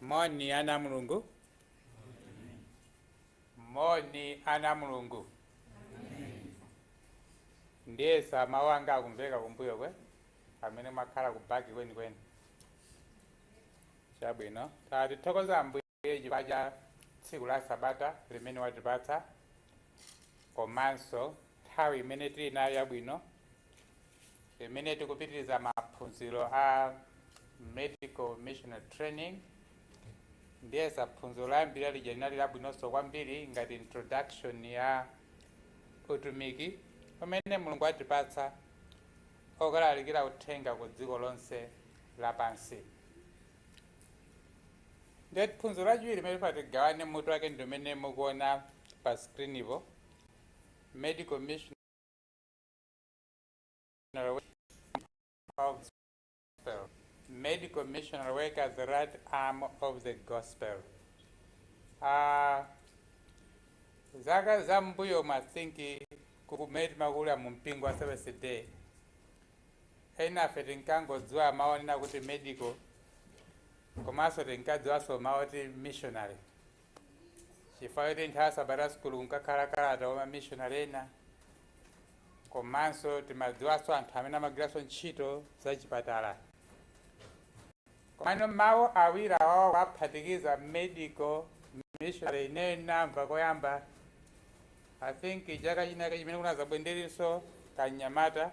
moni ana a mulungu moni ana a mulungu ndiyesa mawu anga akumveka kumbuyo kwe amene mwakhala kubaki kwenikweni chabwino tatithokoza ambuye Ambuye chifukwa cha tsiku la Sabata limene watipatsa komanso nthawi imene tili nayo yabwino imene tikupitiriza maphunziro a medical missionary training ndiyesa phunziro loyambira lija linali labwinonso kwambiri ngati introduction ya utumiki umene Mulungu watipatsa wokalalikira uthenga ku dziko lonse lapansi ndiye phunziro lachiwiri limene tifuna tigawane mutu wake ndi umene mukuona pa screenipo medical missionary of gospel medical missionary work as the right arm of the gospel Ah, zaka za mbuyo I think ku kumene timakula mu mpingo wa seventh day Ena ife tinkangodziwa mawu onena kuti medical komanso tinkadziwanso mawu oti missionary chifukwa choti nthawi ya Sabata school kunkakhala kalata wa ma missionary ena komanso timadziwanso anthu amene amagwiranso ntchito zachipatala. Komano mawu awiri awawa kuwaphatikiza medical missionary ineyo ndinamva koyamba I think chaka chinake chimene kunadza bwenzi ndilinso kamnyamata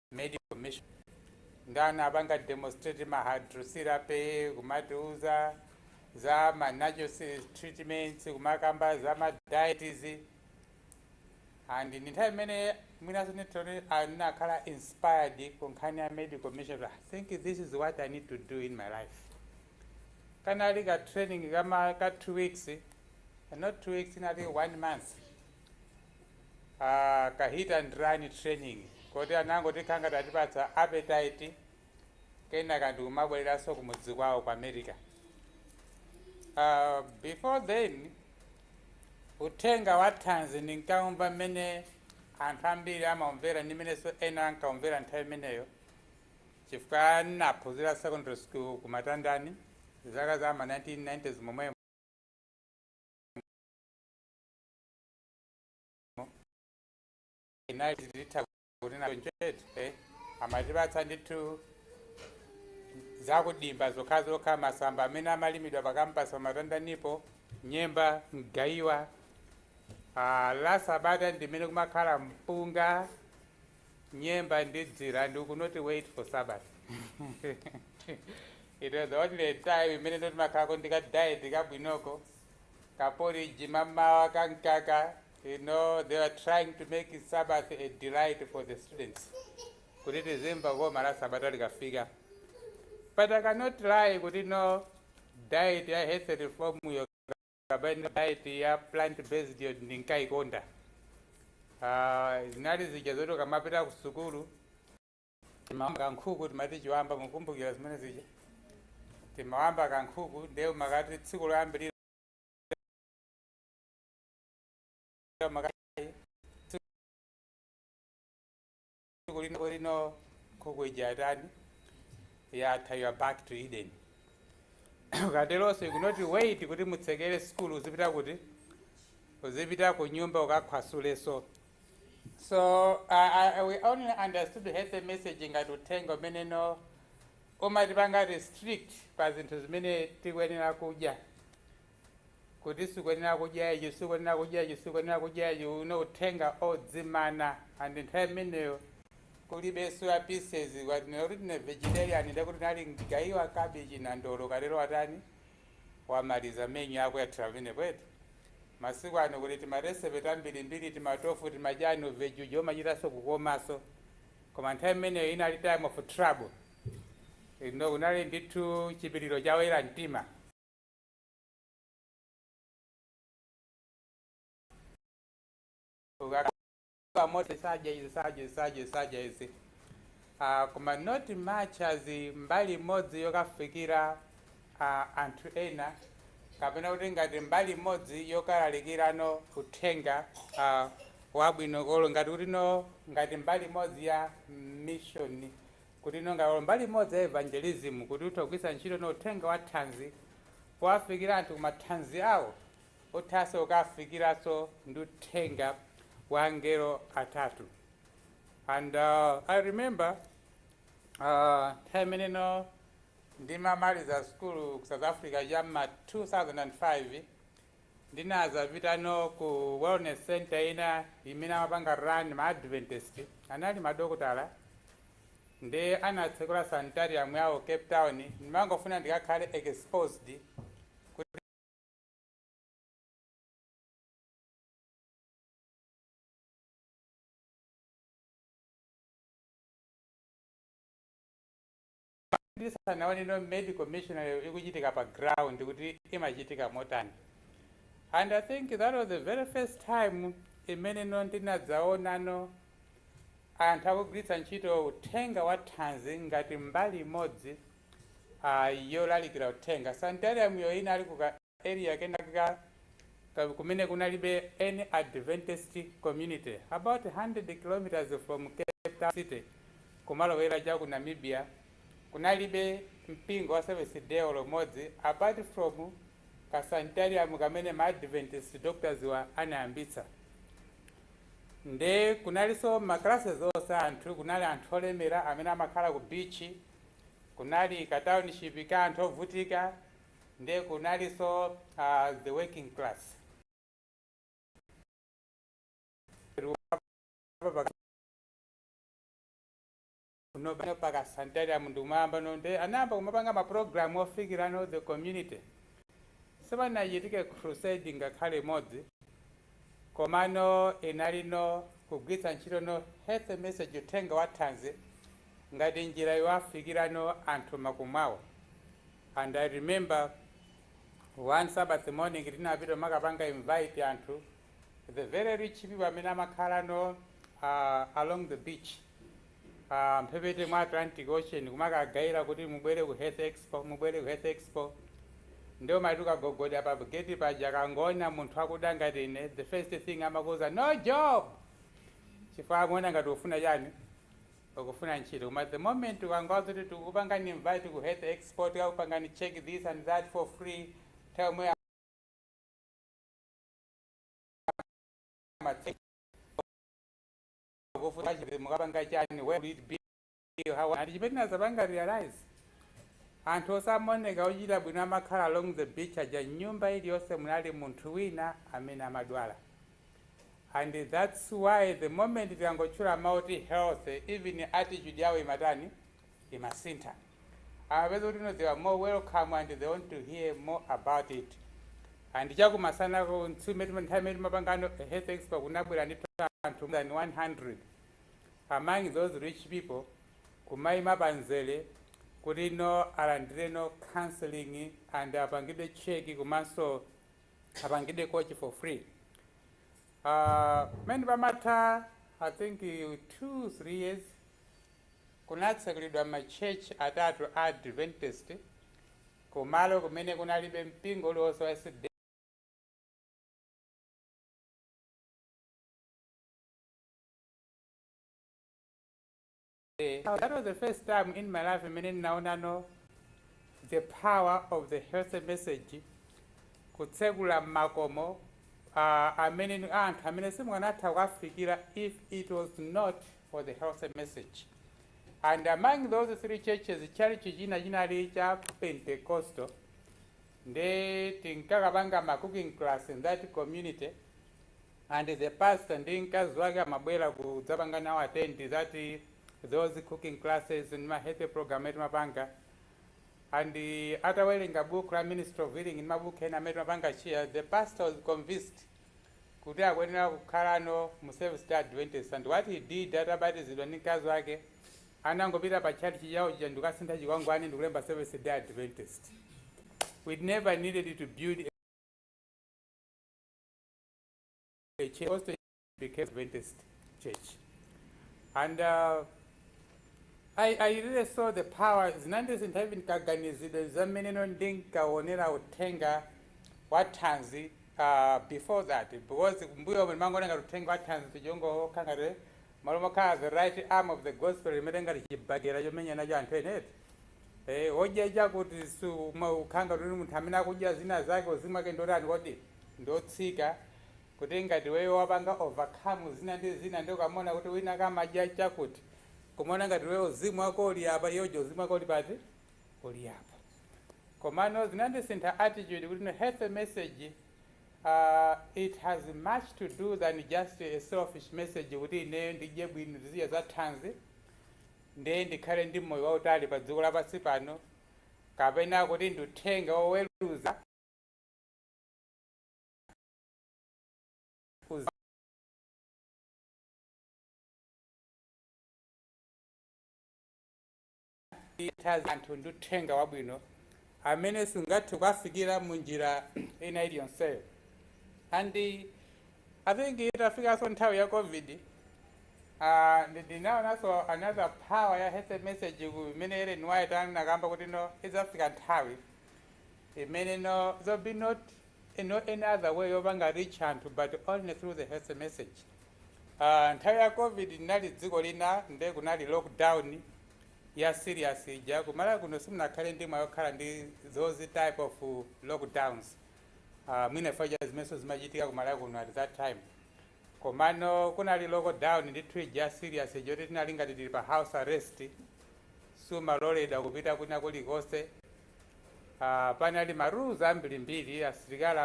medical mission ndi anapanga demonstrate ma hydrotherapy kumatiuza za ma natural treatments kumakamba za ma diets and ndi nthawi imene mwinaso ineyo ndinakhala inspired ku nkhani ya medical mission i think this is what i need to do in my life kanali ka training ka ma ka two weeks not two weeks inali one month ah, ka hit and run training koti anangotikhala ngati atipatsa appetite kenaka ndikumabwereranso kumudzi kwawo ku america uh, before then uthenga wa thanzi ndinkaumva mmene anthu ambiri amaumvera ndi mmenenso ena ankaumvera nthawi imeneyo chifukwa ndinaphunzira secondary school ku matandani zaka za ma 1990s momwemo inali titha kuti nayo njetu eh, amatipatsa ndithu zakudimba zokhazokha masamba amene amalimidwa pakampasi pamatandanipo nyemba mgayiwa ah, la sabata ndimene kumakhala mpunga nyemba ndi dzira ndiye you cannot wait for sabata it was the only time imene no timakhalako ndi kadiet kabwinoko ka porridge mammawa ka mkaka you know they were trying to make sabbath a delight for the students kuti tizimva koma la sabata likafika but i cannot lie kuti no diet ya health reform yo kapena diet ya plant based yo ndinkayikonda uh, zinali zija zoti ukamapita ku sukulu timawamba kankhuku timati chiwamba mukumbukira zimene zija timawamba kankhuku ndiye umakati tsiku loyambirira umakati tsiku lino lino nkhuku ija yatani yatha you are back to eden ukateronso you cannot wait kuti mutsekere sukulu uzipita kuti uzipita ku nyumba ukakhwasulenso So uh, I, we only understood health message ngati uthenga umene no umatipanga restrict pa zinthu zimene tikuyenera kudya kuti sikuyenera kudya ichi sikuyenera kudya ichi sikuyenera kudya ichi you know uthenga odzimana and nthawi imeneyo kulibe soya pieces ukati no kuti ndine vegetarian ndekuti unali mgaiwa cabbage nandolo ukatero watani wamaliza menyu yako yathera pamenepo eti masiku ano kuli timaresepe tambirimbiri timatofu timachani u veggie wo umachitanso kukomanso koma nthawi imeneyo inali time of trouble you know kunali ndithu chipiriro cha oyera mtima Ukaka- kumoto osadya izi osadya izi osadya izi osadya izi uh, koma not much as mbali imodzi yokafikira uh, anthu ena kapena kuti ngati mbali imodzi yokalalikirano uthenga uh, wabwino olo ngati kuti no ngati mbali imodzi ya mission kuti no ngati olo mbali imodzi ya evangelism kuti utha kugwiritsa ntchito no uthenga wa thanzi powafikira anthu kumathanzi awo Uthanso kuwafikiranso ndi uthenga wa angelo atatu and uh, I remember uh, nthawi imeneno ndimamaliza sukulu ku South Africa cha mma 2005 ndinazapitano ku wellness center ina imene amapanga run ma Adventist anali madokotala ndi anatsekula sanitarium yawo Cape Town ndimangofuna ndikakhale exposed ndinaoneno medical missionary ikuchitika pa ground kuti imachitika motani and i think that was the very first time imeneno ndinadzaonano anthu akugwiritsa ntchito uthenga wa thanzi ngati mbali imodzi yolalikira uthenga. Sanitarium yo inali ku ka area kenakake kumene kunalibe any Adventist community about 100 km from Cape Town city kumalowera cha ku Namibia. Kunalibe mpingo wa Seventh day olo umodzi apart from ka sanitarium kamene ma Adventist doctors wa anayambitsa. Nde kunalinso ma classes onse a anthu, kunali anthu olemera amene amakhala ku beach, kunali ka township ka anthu ovutika nde kunalinso uh, the working class kuno pa ka sanitarium ndi m'mwambamo nde anayamba kumapanga ma program ofikirano the community sipanachitike crusade ngakhale imodzi Komano inali no kugwiritsa ntchito no health message uthenga wa thanzi ngati njira yowafikira no anthu m'makomo mwawo and I remember one Sabbath morning tinapita kumakapanga invite anthu the very rich people amene amakhala no uh, along the beach pa mphepete mwa Atlantic Ocean kumakagawira kuti mubwere ku Health Expo, mubwere ku Health Expo. Nde umati ukagogoda pa gate paja akangoona munthu wakuda ngati ine, the first thing amakuuza no job! Chifukwa amaona ngati ukufuna chani? Ukufuna ntchito. Koma the moment ukangowauza kuti tikukupangani invite ku Health Expo, tikakupangani check this and that for free, nthawi yomweyo amatsegula. kufuta chipembedzo mukapanga chani where will it be how and chimene tinazapanga realize anthu ooneka ochita bwino amakhala along the beach aja m'nyumba iliyonse munali munthu wina amene amadwala and that's why the moment tikangotchula mawu oti health even attitude yawo imatani imasintha amapeza kuti no they are more welcome and they want to hear more about it and chakumasana ko nthawi imene timapangano health expo kunabwera ndi anthu more than 100 among those rich people kumayima panzere kuti no alandire no counseling and apangidwe check komanso apangidwe coach for free uh, mene pamatha i think uh, two three years kunatsekulidwa ma church atatu a Adventist ku malo kumene kunalibe mpingo uliwonse wa sda. That was the first time in my life imene ndinaonano the power of the health message kutsekula makomo uh, amene anthu amene simukanatha kuwafikira if it was not for the health message and among those three churches tchalitchi china chinali cha pentecostal nde tinkakapanga ma cooking class in that community and the pastor ndi mkazi wake amabwera kudzapanga nawo attend that those cooking classes ndi ma health program amene timapanga and uh, atawerenga book la ministry of healing ndi mabuku ena amene timapanga share the pastor was convinced kuti akuyenera kukhala no mu Seventh-day Adventist and what he did atabatizidwa ndi mkazi wake anangopita pa tchalitchi chawo chija ndikukasintha chikwangwani ndikulemba Seventh-day Adventist. We never needed to build a the church also became Adventist church. And uh, I, I really saw the power zinandisintha even kaganizidwe ka mmene ndinkaonera uthenga wa thanzi aah before that because kumbuyomu ndimangoona ngati uthenga wa thanzi uja ungokhala ngati mmalo mokhala the right arm of the gospel umene ngati chibakera chomenya nacho anthu ena eti eh odya chakuti ukhala ngati uli munthu amene akudya zina zake uzimu wake ndiotani kodi ndiotsika kuti ngati iweyo wapanga overcome zina ndi zina ndi ukamona kuti wina akamadya chakuti kumaona ngati iweyo uzimu wako uli apa iye uja uzimu wako uli pati uli apa komano zinandisintha attitude kuti no health message uh, it has much to do than just a selfish message kuti ineyo ndidye bwino ndizidya za thanzi ndiye ndikhale ndi moyo wautali pa dziko lapansi pano kapena kuti ndi uthenga woweruza anthu ndi uthenga wabwino amene sungathe kuwafikira mu njira ina iliyonseyo and i think itafikanso nthawi ya covid ah, ndi- ndinaonanso another power ya health message ku- imene ellen white anakamba kuti no idzafika nthawi imene no there'll be not e no any other way yopanga reach anthu but only through the health message uh nthawi ya covid ndinali dziko lina nde kunali lockdown ya serious ija kumalawi kuno simunakhale ndi mwayi okhala ndi those type of lockdowns uh, mwina chifukwa cha zimenso zimachitika kumalawi kuno at that time komano kunali lockdown ndithu ija serious ija yoti tinali ngati tili pa house arrest simaloledwa kupita kwina kulikonse Ah, panali ma rules ambirimbiri asilikali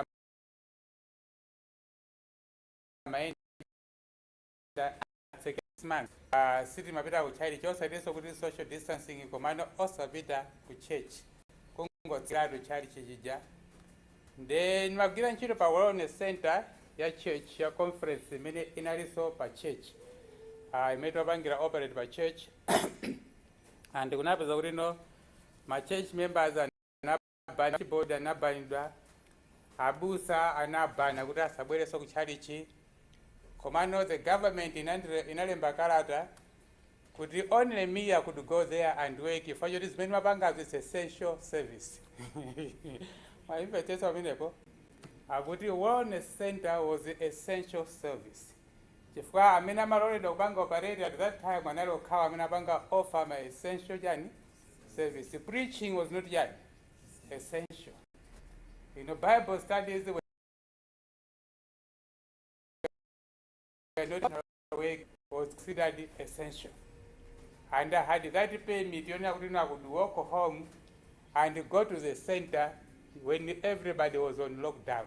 amayenda atsekesman ah, sitimapita ku tchalitchi osatinso kuti social distancing komano osapita ku church kungotsekeratu tchalitchi chija nde ndimagwira ntchito pa wellness center ya church ya conference imene inalinso pa church ah, imene timapangira operate pa church and kunapezeka kuti no ma church members anabanidwa board inabanidwa abusa anabanidwa kuti asabwereso ku tchalitchi komano the government inandire- inalemba kalata kuti only me I could go there and work chifukwa choti zimene ndimapangazo is essential service mwayimvetsetsa pamenepo akuti wellness center was essential service Chifukwa amene amaloledwa kupanga operate at that time anali okhawo amene apanga offer ma essential chani service. Preaching was not chani essential. You know bible studies were not work was considered essential. And I had that permit yonena kuti I could walk home and go to the center when everybody was on lockdown.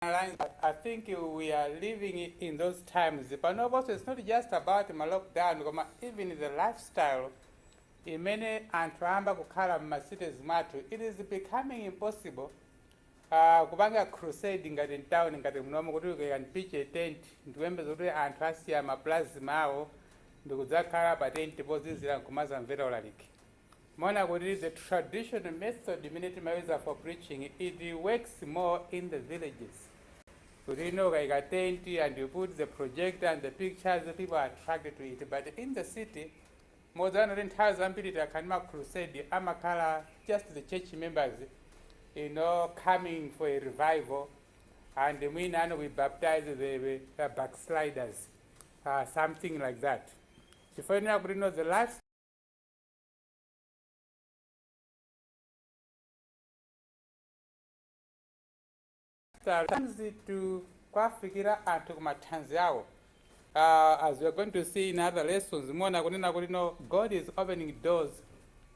Lines, I think we are living in those times. Panoponso it's not just about ma lockdown koma even the lifestyle imene anthu ayamba kukhala m'ma cities mwathu it is becoming impossible uh, kupanga crusade ngati mtown ngati munomo kuti you can pitch a tent ndikuyembeza kuti anthu asiya ma plasma awo ndikudzakhala pa tent pozizira nkumazamvera ulaliki Mwaona kuti the traditional method imene timauser for preaching it works more in the villages kuti you know ukaika tent and you put the projector and the pictures people are attracted to it but in the city muona kuti nthawi zambiri takhala ndi ma crusade amakhala just the church members you know coming for a revival and mwina you know we baptize the, the backsliders uh, something like that chifukwa kunena kuti you know the last thanzi to kuwafikira anthu ku mathanzi awo uh, as we are going to see in other lessons muona kunena kuti no god is opening doors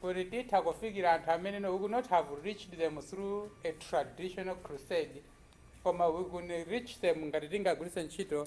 kuti titha kufikira anthu amene no we could not have reached them through a traditional crusade koma we could reach them ngati tingagwiritse ntchito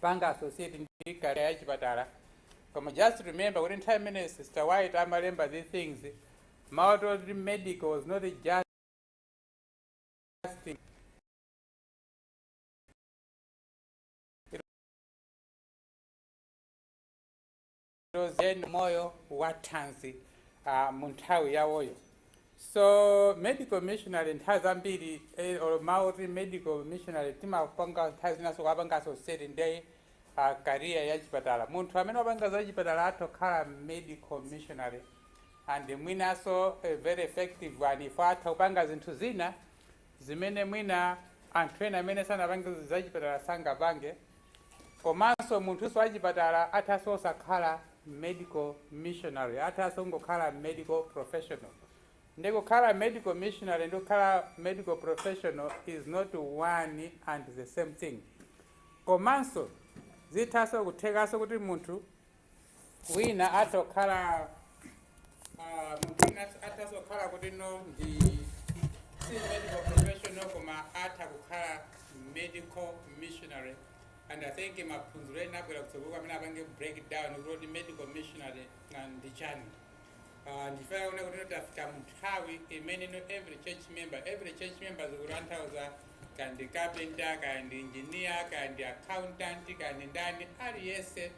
panga associate ndi career ya chipatala koma just remember kuti nthawi imene sister white amalemba these things mawu oti medical was not just it Lozen moyo wathanzi uh, mu nthawi yawoyo so medical missionary nthawi zambiri eh, or mawu oti medical missionary timapanga nthawi zinanso kuwapanga associate ndi uh, career ya chipatala munthu amene wapanga za chipatala atha kukhala medical missionary and mwinanso eh, very effective one if atha kupanga zinthu zina zimene mwina anthu ena amene sanapange zachipatala sangapange komanso munthunso wachipatala athanso osakhala medical missionary athanso kungokhala medical professional ndi kukhala medical missionary and kukhala medical professional is not one and the same thing komanso zithanso kuthekanso kuti munthu wina atha kukhala ah, munthu wina atha kukhala kuti no ndi si medical professional koma atha kukhala medical missionary and i think maphunziro ena abwera kutsogolo amene apanga breakdown kuti medical missionary ndi chani Ah, ndifuna kuona kuti tafika mnthawi imene no every church member every church member zikutanthauza kaya ndi carpenter kaya ndi engineer kaya ndi accountant kaya ndi ndani aliyense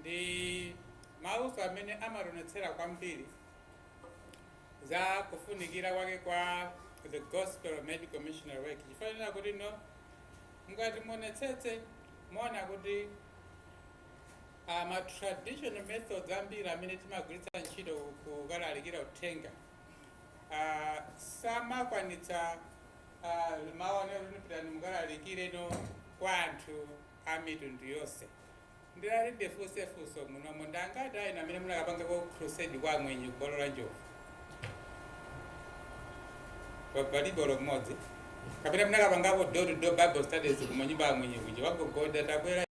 Ndi mawunso amene amationetsera kwambiri za kufunikira kwake kwa the Gospel Medical Missionary Work chifukwa chonena kuti no mukati muonetsetse muona kuti uh, ma traditional methods ambiri amene timagwiritsa ntchito kukalalikira uthenga uh, samakwanitsa uh, mawu onena kuti pitani mukalalikire no kwa anthu a mitundu yonse Ndilole ndifunse funso munomo ndi angati a inu amene munakapangako crusade kwa amwenye ku bwalo la njovu? Pa palibe olo mmodzi kapena munakapangako door to door bible studies ku manyumba a amwenye kuja kwagogoda tabwera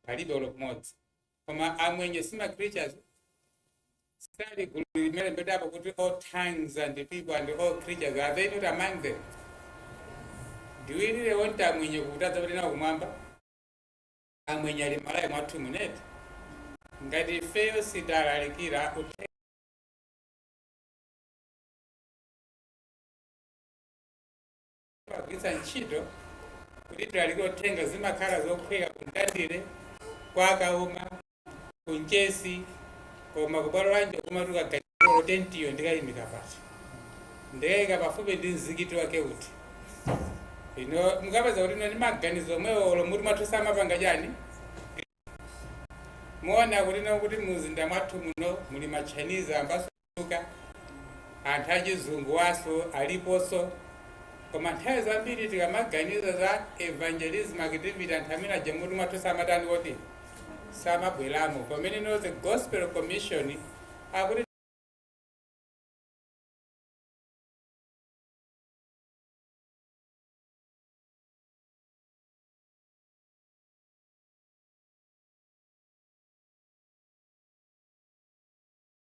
palibe olo mmodzi koma amwenye sima creatures sali gulu limene lembedwapo kuti all tongues and people and all creatures are they not among them do we really want amwenye kuti tidzapite nawo kumwamba amwenye ali Malawi mwathu muno eti ngati ifeyo sitalalikira uthenga Timagwiritsa ntchito kuti tilalikire uthenga zimakhala zophweka ku Mtandire, kwa Kauma, ku Mchesi, koma ku bwalo la Njovu kumatuka gachipolo tentiyo ndikayimika pati ndikayika pafupi ndi mzikiti wake uti ino mukapeza kuti ino ndi maganizo omwewo olo muti mwathu simapanga chani muona kuti no kuti mumzinda mwathu muno muli machinese ambanso kuchuluka, anthu achizungu nawonso aliponso. Koma nthawi zambiri tikamaganiza za evangelism activity, anthu amene aja mutu mwathu samatani kuti samabweramo pamene no the gospel commission akuti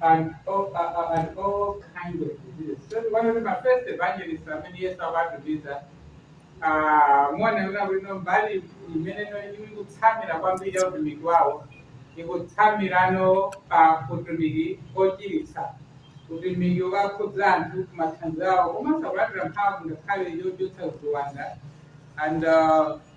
and all, uh, uh, and all kinds of diseases. So one of my first evangelists amene Yesu ankawatumiza kunena kuti no mbali imene ikutsamira kwambiri ya utumiki wawo ikutsamirano pa utumiki wochiritsa utumiki wokakhudza anthu kumathanzi awo komanso kulandira mphamvu ngakhale yochotsa ziwanda and uh,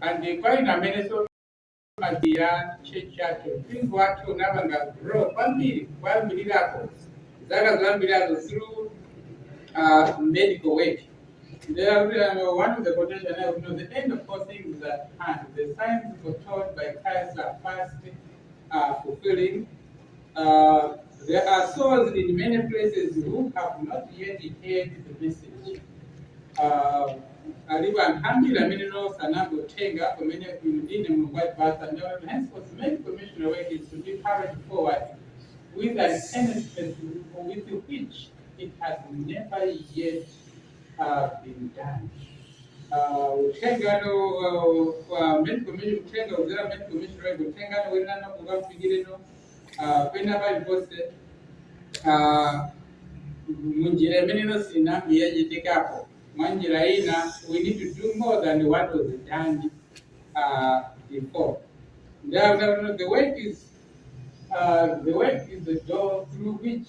and kwa ine amenenso Madzi ya church yake mpingo wake unapanga grow kwambiri kuyambira mu zaka zoyambirirazo through uh, medical work There are uh, one of the quotation I would know the end of all things is at hand. The signs foretold by Christ are fast uh, fulfilling Uh, there are souls in many places who have not yet heard the message. Uh, alipo anthu ambiri amene nonse anangotenga pamene inu ndine mulungu atipasa ndiyoti henceforth many commissioner work is to be carried forward with an earnestness with which it has never yet have been done. Uh, utengano uh, kwa main committee utenga uzera main committee right utengano wenana kukamfikire no uh, kwena bai poste uh, munjira imene inosinambi yachitikapo mwanjira ina we need to do more than what was done uh, before the, the, the work is uh, the work is the door through which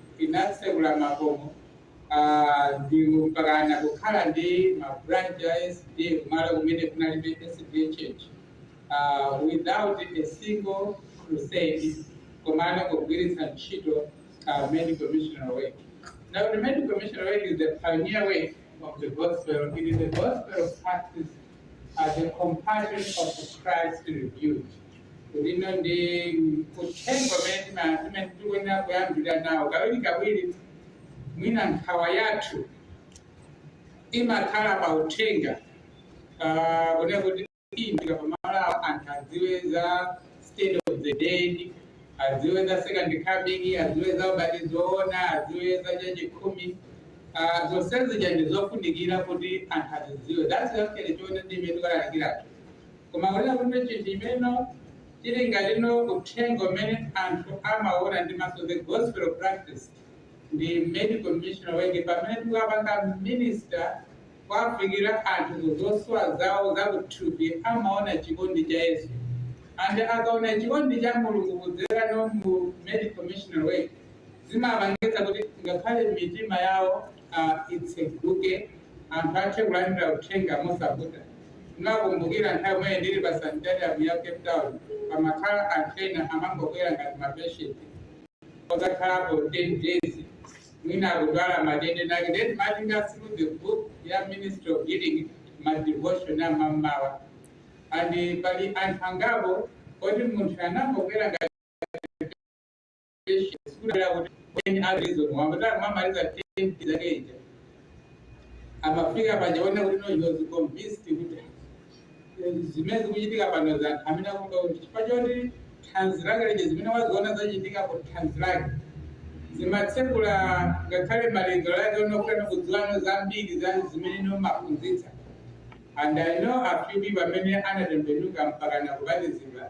Tinatsekula makomo a ndiwo mpakana kukhala ndi ma branch kumalo kumene kunalibe church uh, without a single crusade komano kugwiritsa ntchito uh, medical missionary work. Now the medical missionary work is the pioneer work of the gospel. It is the gospel practiced as the compassion of Christ revealed. ndiye no ndi uthenga umene tikuyenera kuyambira nawo kawiri kawiri mwina nkhawa yathu imakhala pa uthenga Ah, kunena kuti tikamalowa anthu adziwe za state of the dead adziwe za second coming adziwe za ubatizo woona adziwe za chachikhumi Ah, zonsezi chandi zofunikira kuti anthu azizidziwa that's actually choonadi chimene tikalalikiratu Koma kunena kuti chinthu chimene no chili ngati no uthenga umene anthu amaona ndi maso the gospel practiced ndi medical missionary work pamene tikapanga minister kuwafikira anthu ku zosowa zawo za kuthupi amaona chikondi cha Yesu and akaona chikondi cha Mulungu kudzera no mu medical missionary work zimapangitsa kuti ngakhale mitima yawo itseguke anthu athe kulandira uthenga mosavuta ndikukumbukira nthawi imene ndili pa sanitarium ya cape town pamakhala anthu ena amangobwera ngati mapatient ozakhalapo 10 days mwina akudwala matenda ake then timawatenga through the book ya ministry of healing ma devotion a mammawa and pali anthu angapo oti munthu anangobwera ngati amafika pakuona kuti no he was convinced kuti zimene zikuchitika pano za anthu amene akumva kuti chifukwa choti thanzi lake lija zimene waziona zachitika ku thanzi lake zimatsekula ngakhale malingaliro ake ofuna kudziwa no zambiri za zimene no amaphunzitsa and i know a few people amene anatembenuka mpaka nakubatizidwa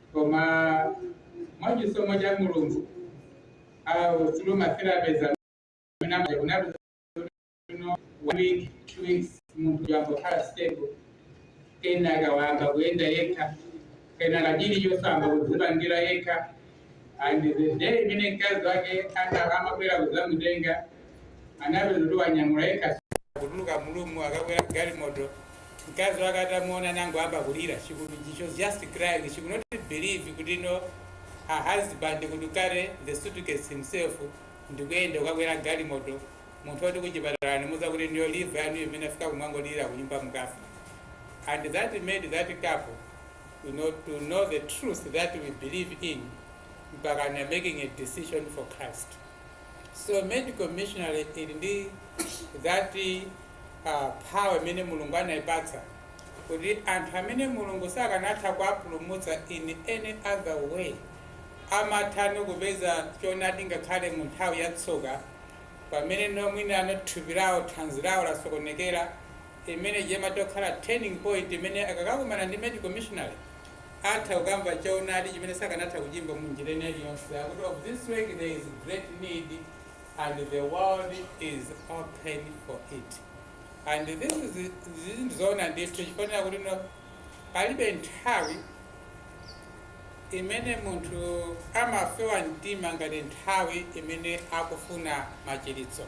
koma mwa chisomo cha mulungu ah through ma therapies amene amaja kunali kuno one week two weeks munthu wayamba kukhala stable kenaka wayamba kuyenda yekha kenaka chilichonse wayamba kudzipangira yekha and the day imene mkazi wake ana- amabwera kudzamutenga anapeza kuti wanyamula yekha kutuluka mu room kukakwera galimoto mkazi wake atamuona anangoyamba kulira she could she was just crying she could not believe kuti no her husband could carry the suitcase himself ndikuyenda kukakwera galimoto munthu woti kuchipatala anamuuza kuti inuyo liver yanu mmene yafika kumangolira kunyumba mukafe and that made that couple you know, to know the truth that we believe in mpaka na making a decision for christ So medical missionary ili ndi that uh, power imene Mulungu anaipatsa kuti anthu amene Mulungu sakanatha kuwapulumutsa in any other way amatha no kupeza choonadi ngakhale mu nthawi ya tsoka pamene no mwina thupi lawo thanzi lawo lasokonekera imene ija imatha kukhala turning point imene akakakumana ndi medical missionary atha kukamva choonadi chimene sakanatha kuchimva mu njira ina iliyonse. Akuti of this work there is great need and the world is open for it. And this is izi ndi zoona ndithu chifukwa chakuti no palibe nthawi imene munthu amafewa mtima ngati nthawi imene akufuna machiritso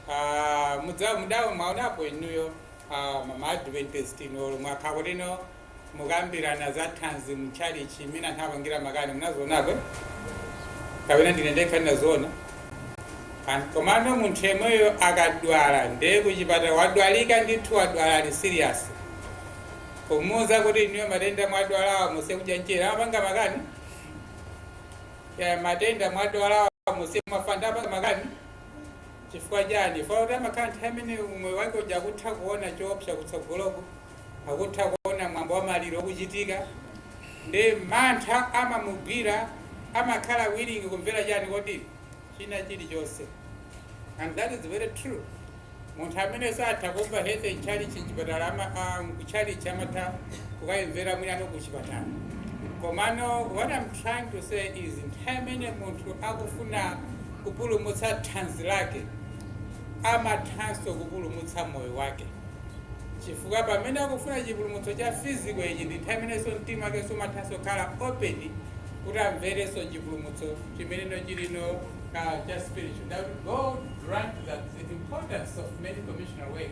Ah, mudza- mudayamba mwaonapo inuyo ah, ma- ma adventist inu mwakhala kuti no mukambirana za thanzi m'tchalitchi mmene anthu amapangira makani munazionapo kapena ndine ndekha ndinaziona An- komano munthu yemweyo akadwala ndiye kuchipatala wadwalika ndithu wadwala ali serious kumuuza kuti inuyo matenda mwadwalawa musiye kudya mazira amapanga makani ya matenda mwadwalawa musiye kumwa fanta apanga makani chifukwa chani chifukwa chakuti amakhala nthawi imene umoyo wake uja akutha kuona choopsa kutsogoloko akutha kuona mwambo wa maliro ukuchitika ndi mantha amamugwira amakhala willing kumvera chani kodi china chilichonse and that is very true munthu amene satha kumva health m'tchalitchi chipatala ama- ah, kutchalitchi amatha kukayimvera mwina no kuchipatala komano what i'm trying to say is nthawi imene munthu akufuna kupulumutsa thanzi lake amathanso kupulumutsa moyo wake chifukwa pamene akufuna chipulumutso cha physical ichi ndi nthawi imenenso mtima wakenso umathanso kukhala open kuti amverenso chipulumutso chimeneno chilino uh, cha spiritual may god grant that the importance of medical missionary work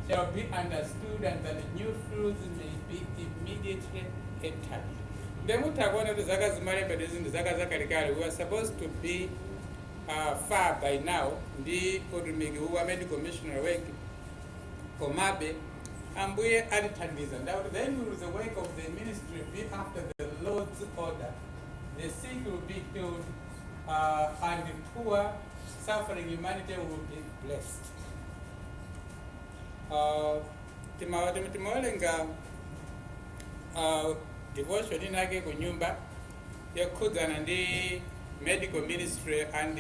shall be understood and that new fields may be immediately entered nde mutha kuona kuti zaka zimalembedwe zinthu zaka zakalekale we were supposed to be uh, far by now ndi utumiki uwu wa medical missionary work komabe ambuye atithandiza ndauti the end of the work of the ministry be after the lord's order the sick will be healed uh, and the poor suffering humanity will be blessed uh, timawa timawelenga uh, devotion inake kunyumba yokhudzana ndi medical ministry and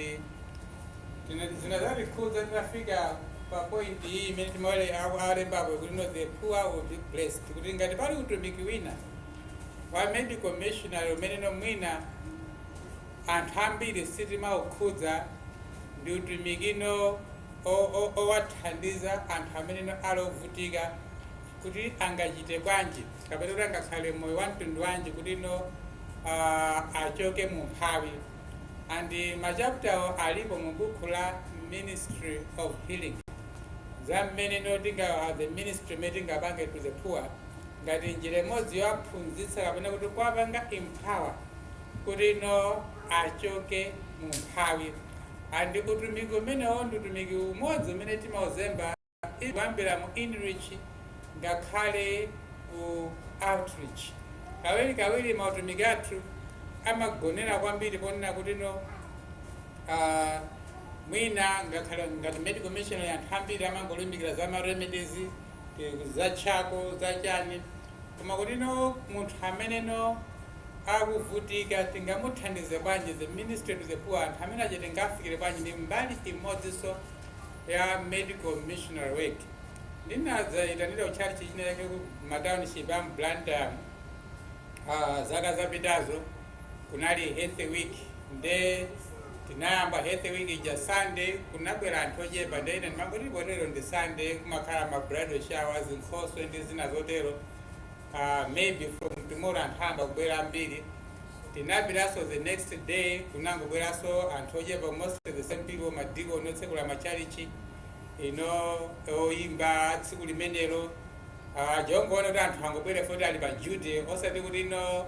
zina- zina zatikhudza tinafika pa point iyi imene timawerengapo kuti no the poor will be blessed kuti ngati pali utumiki wina wa medical missionary umene no mwina anthu ambiri sitimaukhudza ndi utumikino owathandiza anthu amene no ali ovutika kuti angachite bwanji kapena kuti angakhale moyo wa mtundu wanji kuti no uh, achoke mu umphawi and machaputawo alipo mu bukhu la ministry of healing za mmene no tinga the ministry umene tingapange to the poor ngati njira imodzi yowaphunzitsa kapena kuti kuwapanga empower kuti no achoke mu umphawi and utumiki umenewo ndi utumiki umodzi umene timauzemba kuyambira mu inreach ngakhale ku outreach. Kawirikawiri mautumiki athu amagonera kwambiri ponena kuti no ah, mwina ngakhale ngati medical missionary anthu ambiri amangolimbikira za ma remedies eh, za charcoal za chani koma kuti no munthu amene no akuvutika tingamuthandize bwanji the ministry to the poor anthu amene aja tingafikire bwanji ndi mbali imodzinso ya medical missionary work ndinadzaitanidwa ku tchalitchi china chake ku ma township a mu blantyre muno. Ah, zaka zapitazo kunali health week nde tinayamba health week ija sunday kunabwera anthu ochepa nde ine ndimangoti potero ndi sunday kumakhala ma bridal showers zinkhoswe ndi zina zotero uh, maybe from tomorrow anthu ayamba kubwera ambiri tinapitanso the next day kunangobweranso anthu ochepa mostly the same people madikoni otsekula machalichi ino oyimba tsiku limenelo uh, chongoona kuti anthu angobwera foti ali pa duty osati kuti ino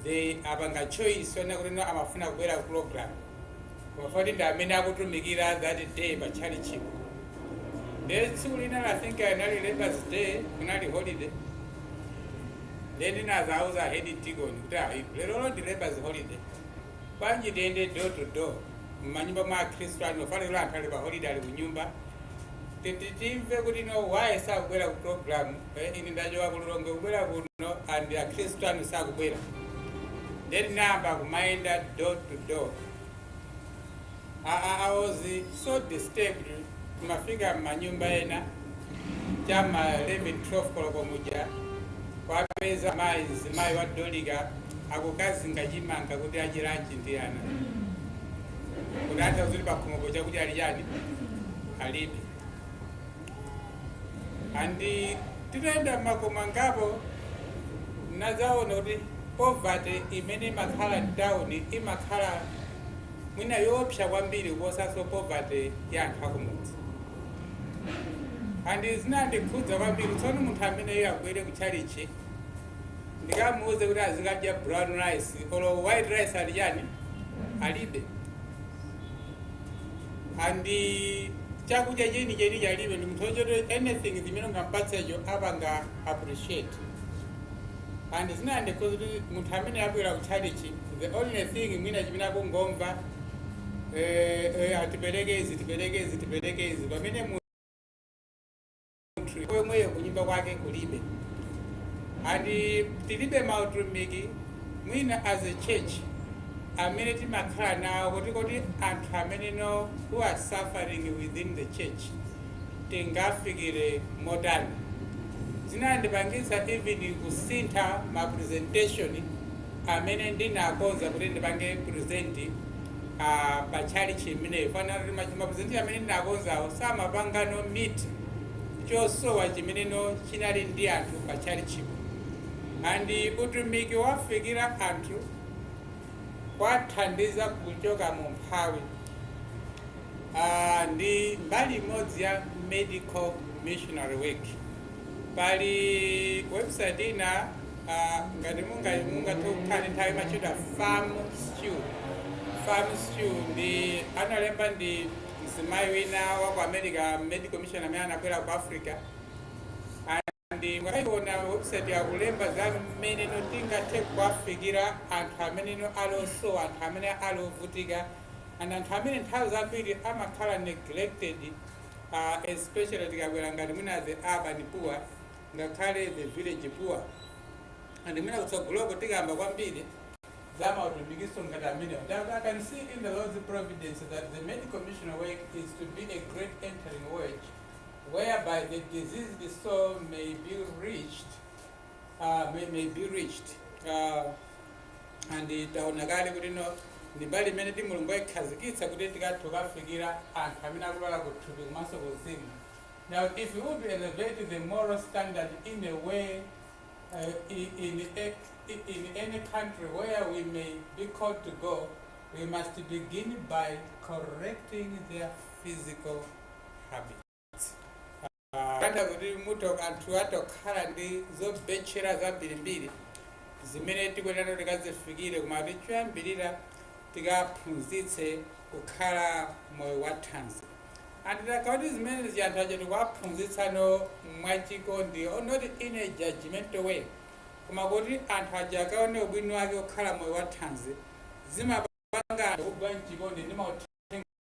they apanga choice yonena kuti ino amafuna kubwera ku program Koma foti ndi amene akutumikira that day pa tchalitchipo. Then tsiku lina I think anali Labour's Day, kunali holiday. Then ndinadzauza head deacon kuti ayi lero ndi Labour's holiday. Bwanji tiyende door to door. Mmanyumba mwa Akhristu anu chifukwa choti anthu ali pa holiday ali kunyumba. Kuti timve kuti no why sakubwera ku program eh, ine ndachoka ku Lilongwe kubwera kuno and akhristu anu sakubwera then tinayamba kumayenda door to door I, I, I was so disturbed kumafika mmanyumba ena chama 11 12 koloko muja kwapeza mayi mzimayi wa Dorika akukazinga chimanga kuti adye lunch ndi ana kutanthauza kuti pakhomopo chakudya alichani alibe andi titayenda m'makomo angapo ndinadzaona kuti poverty imene imakhala mtawuni imakhala mwina yoopsa kwambiri kuposanso poverty ya anthu akumudzi andi zinandikhudza kwambiri tsono munthu ameneyo abwere kutchalichi ndikamuuze kuti azikadya brown rice olo white rice alichani alibe and chakudya chenicheni alibe ndi munthu woti anything zimene ungampatsecho apanga appreciate and zinandikhudza kuti munthu amene abwera ku tchalitchi the only thing mwina chimene akungomva eh, eh, ah tiperekeni tiperekeni tiperekeni pamene mu nthu yomweyo kunyumba kwake kulibe and tilibe mautumiki mwina as a church amene timakhala nawo kuti kuti anthu amene no who are suffering within the church tingafikire motani zinandipangitsa even kusintha ma presentation amene ndinakonza kuti ndipange present a pa tchalitchi imeneyo chifukwa choti machi- mapresenti amene ndinakonzawo samapanga no meet chosowa chimene no chinali ndi anthu pa tchalitchipo andi utumiki wowafikira anthu kuwathandiza kuchoka mu umphawi Ah, ndi mbali imodzi ya medical missionary work Pali website ina uh, ngati mungathe kukhala ndi nthawi imatchedwa farm stew farm stew ndi analemba ndi mzimayi wina wa ku america medical missionary amene anabwera ku africa and mukaiona website yakulemba za mmene no tingathe kuwafikira anthu amene no ali osowa anthu amene ali ovutika and anthu amene nthawi zambiri amakhala neglected uh, especially tikakamba ngati mwina the urban poor ngakhale the village poor and mwina kutsogoloko tikamba kwambiri za mautumikiso ngati amenewo i can see in the lord's providence that the medical missionary work is to be a great entering wedge whereby the diseased soul may be reached uh, may, may be reached uh, and taona kale kuti no ndi mbali imene mulungu anaikhazikitsa kuti tikathe kukafikira anthu amene akulwala kuthupi komanso kuzimu now if we would elevate the moral standard in a way uh, in, in, a, in any country where we may be called to go we must begin by correcting their physical habits kunena kuti mwina anthu atha kukhala ndi zobetchera zambirimbiri zimene tikuyenera tikazifikire koma kuti choyambirira tikaphunzitse kukhala moyo wa thanzi and tikati kuti zimene ziyanthu aja tikuwaphunzitsano mwachikondi not in a judgmental way koma kuti anthu aja akaone ubwino wake wokhala moyo wa thanzi zimapanga anthu kugwa mchikondi ndi mauthenga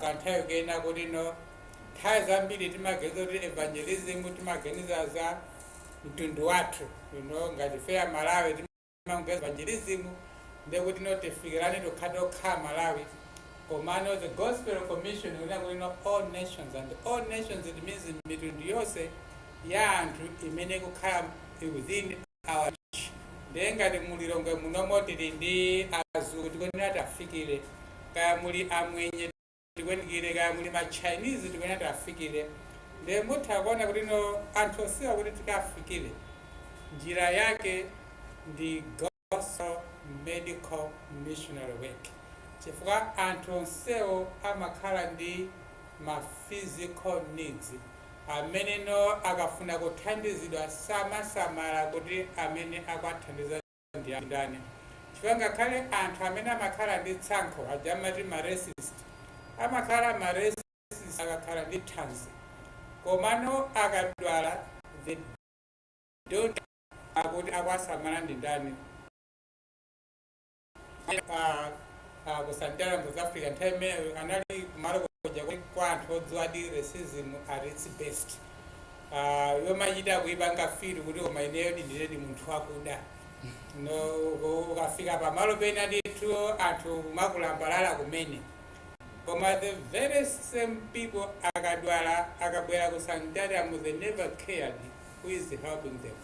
kanthawi kunena kuti no nthawi zambiri timaganiza kuti evangelism timaganiza za mtundu wathu you know ngati ife aMalawi timaganiza evangelism ndekuti no tifikirane tokha tokha aMalawi komano the gospel commission kunena kuti no all nations and all nations it means mitundu yonse ya anthu imene ikukhala within Our reach. Ndiye ngati mu Lilongwe munomo tili ndi azungu tikuyenera tiwafikire, kaya muli amwenye tikwenikire, kaya muli ma Chinese tikuyenera tiwafikire. Ndiye mutha kuona kuti no anthu onsewa kuti tikawafikire njira yake ndi Gospel Medical Missionary Work, chifukwa anthu onsewo amakhala ndi ma physical needs Amene no akafuna kuthandizidwa samasamala kuti amene akuwathandiza ndi a ndani, chifukwa ngakhale anthu amene amakhala ndi tsankho aja amati ma racist amakhala ma racist akakhala ndi thanzi, komano akadwala they don't care kuti akuwasamala ndi ndani. pa ah, ku sanitarium ku south africa nthawi imeneyo anali kumalo koja kuti kwa anthu odziwadi racism at its best Ah, yomachita kuipanga feel kuti koma ineyo ndindiredi munthu wakuda no uko- ukafika pamalo pena ndithu anthu kumakulambalala kumene koma the very same people akadwala akabwera ku sanitarium they never cared who is helping them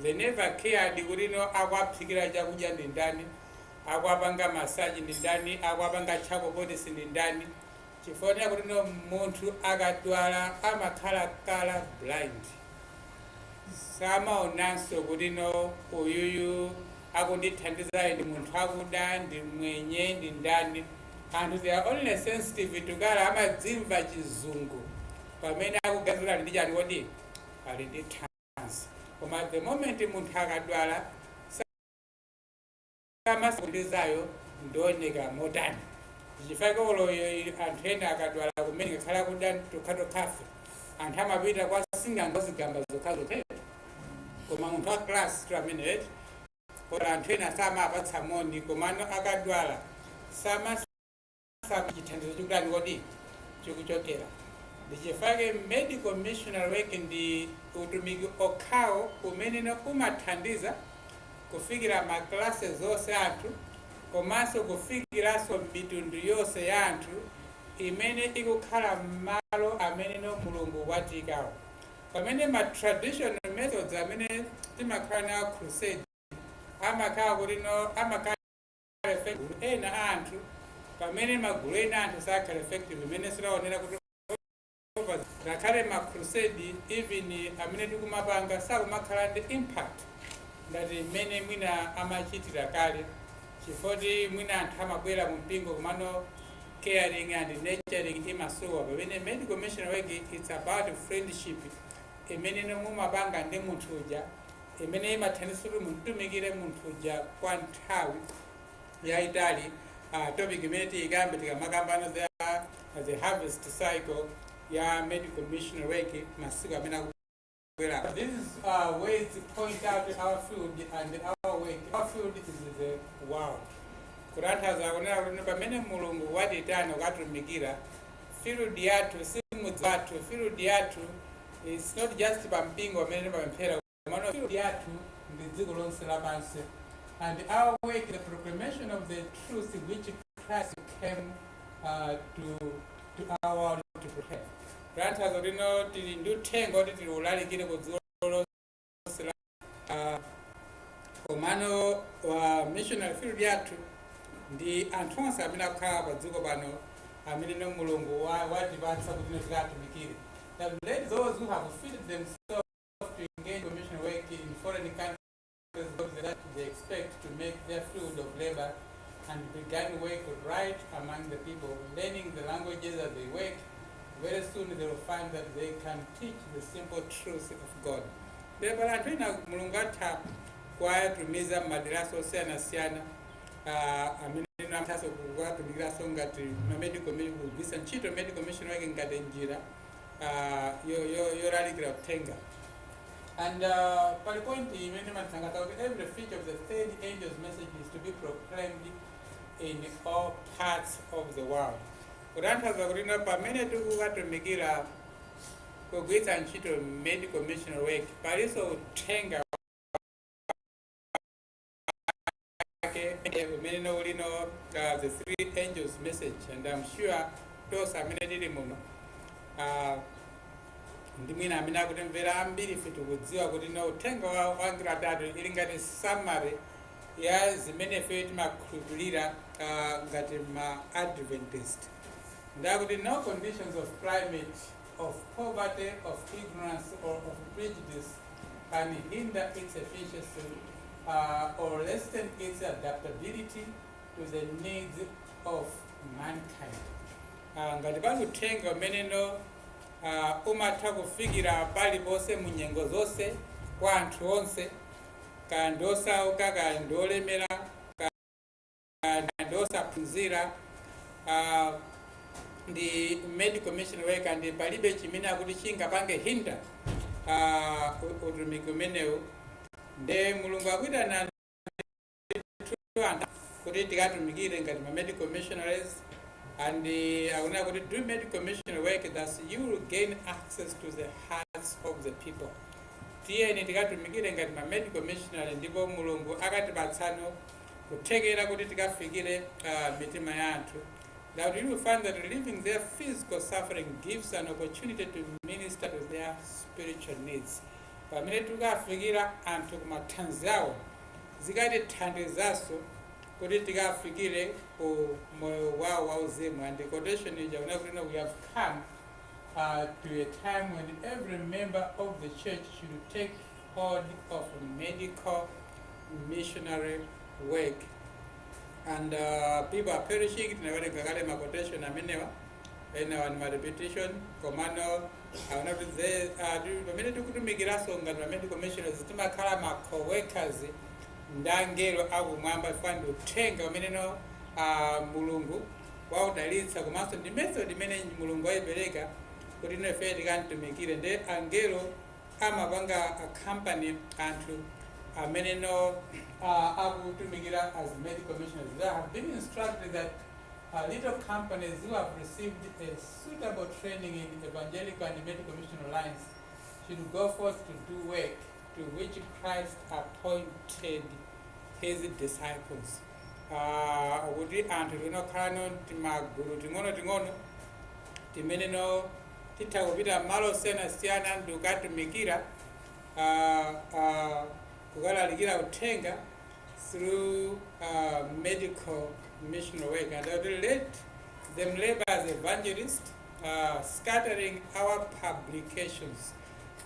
They never cared kuti no akuwaphikira chakudya ndi ndani, akuwapanga massage ndi ndani, akuwapanga charcoal poultice ndi ndani, chifukwa chonena kuti no munthu akadwala amakhala colour blind. Samaonanso kuti no uyuyu akundithandizayo ndi munthu akuda ndi mwenye ndi ndani. Anthu they are only sensitive to colour amadzimva chizungu pamene akuganizira ali ndi chani kodi ali ndi thanzi koma the moment munthu akadwala samasaka undizayo ndioneka motani ndichifake olo anthu ena akadwala kumene ngakhala kuda tokhatokhafe anthu amapita kwa sing'anga wa zigamba zokhazokha koma munthu wa class tu amene eti koma anthu ena samawapatsa moni komano akadwala sama Saka kuti chithandizo ndi kutiko chikuchokera ndichifake medical missionary work ndi utumiki okhawo umene no umathandiza kufikira ma classes onse a anthu komanso kufikiranso mitundu yonse ya anthu imene ikukhala m'malo amene no mulungu watiikamo pamene ma traditional methods amene timakhala nawo a crusade amakhala kuti no amakhala ena a anthu pamene magulu ena a anthu sakhala effective mmene taonera kuti ngakhale ma crusade even amene tikumapanga sakumakhala ndi impact ngati mmene mwina amachitira kale chifoti mwina anthu amabwera mu mpingo komano caring and nurturing imasowa pamene medical missionary work it's about friendship imene no mumapanga ndi munthu uja imene imathandiza kuti mumutumikire munthu uja kwa nthawi yayitali uh, topic imene tiyikambe tikamakambana za the harvest cycle ya medical missionary work masiku amene akubwera these are uh, ways to point out our field and our work our field is the world kutanthauza kunena kuti pamene mulungu watiitana kukatumikira field yathu si mudzi wathu field yathu It's not just pa mpingo pamene timapemphera komano field yathu ndi dziko lonse lapansi and our work is the proclamation of the truth which Christ came uh, to, to our world to prepare. Kutanthauza kuti no tili ndi uthenga woti tilalikire ku dziko uh, komano wa missionary field yathu ndi anthu onse amene akukhala pa dziko pano amene no mulungu wa- watipatsa kuti no tikatumikire that let those who have fitted themselves to engage in mission work in foreign countries of the land they expect to make their field of labor and began work right among the people learning the languages as they work very soon they will find that they can teach the simple truth of God. Ndiye pali anthu ena Mulungu atha kuwatumiza m'maderanso osiyanasiyana ah, amene athaso kuwatumikiraso ngati mamedical kugwiritsa ntchito medical missionary work ngati njira ah, yolalikira uthenga And uh, pali point imene imathangata kuti every feature of the third angel's message is to be proclaimed in all parts of the world. Kutanthauza kuti pamene tikukatumikira kugwiritsa ntchito medical missionary work palinso uthenga wake umene no ulino uh, the three angels message and i'm sure tonse amene tili muno uh, ndi mwina amene akutimvera ambiri ife tikudziwa kuti no uthenga wa wa angelo atatu ili ngati summary ya zimene ife timakhulupirira uh, ngati ma adventist Ndi akuti no conditions of climate, of poverty, of ignorance or of prejudice can hinder its efficiency uh, or lessen its adaptability to the needs of mankind. Uh, ngati pali uthenga umene no uh, umatha kufikira paliponse mu nyengo zonse kwa anthu onse kaya ndi osauka kaya ndi olemera ndi osaphunzira uh, ndi medical missionary work and palibe chimene akuti chingapange hinder uh, utumiki umenewu nde mulungu akuitana anthu kuti tikatumikire ngati ma medical missionaries and uh, akunena kuti do medical missionary work thus you will gain access to the hearts of the people tiyeni tikatumikire ngati ma medical missionary ndipo mulungu akatipatsano kuthekera kuti tikafikire a, mitima ya anthu that you will find that relieving their physical suffering gives an opportunity to minister to their spiritual needs pamene tikafikira anthu ku mathanzi awo zikatithandizanso kuti tikafikire ku moyo wawo wauzimu and the quotation ija ikunena kuti no, we have come uh, to a time when every member of the church should take Hold of Medical Missionary Work and uh, people are perishing tinawerenga kale ma quotation amenewa enawa ni ma repetition komano aona kuti ze- ah, ti- pamene tikutumikiranso ngati ma medical missionaries timakhala ma co-workers ndi angelo akumwamba chifukwa ndi uthenga umene no ah, mulungu waudalitsa komanso ndi method imene mulungu wayipereka kuti ino ife tikamtumikire ndi angelo amapanga a company anthu amene no uh, akutumikira as med commissioners they have been instructed that uh, little companies who have received a suitable training in evangelical and medical missionary lines should go forth to do work to which Christ appointed his disciples. Uh, kuti anthu tinokhala no timagulu ting'ono ting'ono timene no Titha kupita m'malo osiyanasiyana ndi kukatumikira, kukalalikira uthenga through medical missionary work and I would let them labor as evangelist uh, scattering our publications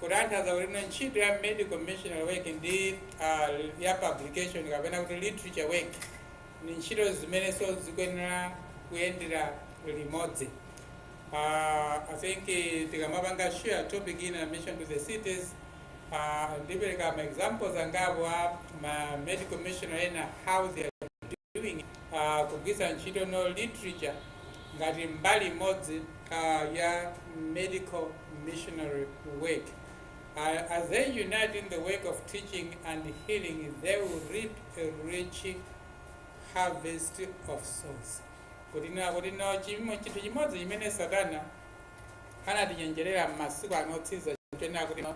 kutanthauza kuti no ntchito ya medical missionary work ndi uh, ya publication kapena kuti literature work ndi ntchito zimenenso zikuyenera kuyendera limodzi Uh, I think uh, tikamapanga share topic in admission to the cities uh, ndipereka ma examples angapo a ma medical mission ena how they are doing uh, kugwisa ntchito no literature ngati mbali imodzi uh, ya medical missionary work uh, as they unite in the work of teaching and healing they will reap a rich harvest of souls kutinena kuti no chimo- chinthu chimodzi chimene satana anatichenjerera m'masiku ano otsiriza ndi chonena kuti no,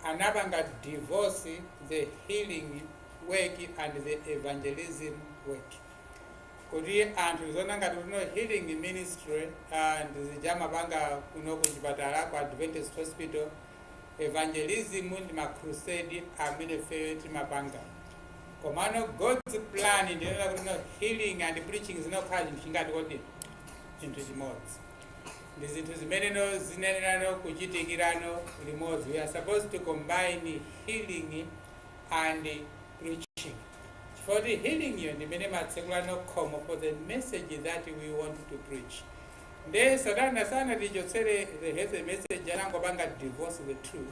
anapanga divorce the healing work and the evangelism work kuti anthu aziona ngati kuti no healing ministry ndi zija amapanga kuno ku chipatala ku adventist hospital evangelism ndi ma crusade amene ifeyo timapanga komano god's plan ndi yonena kuti no healing and preaching zinayenera kukhala chinthu chotani kodi chinthu chimodzi ndi zinthu zimeneno zinayenera kuchitikira no limodzi we are supposed to combine healing and preaching chifukwa choti healing yo ndi imene imatsekula no khomo for the message that we want to preach Nde satana sanatichotsere the health message anangopanga divorce the two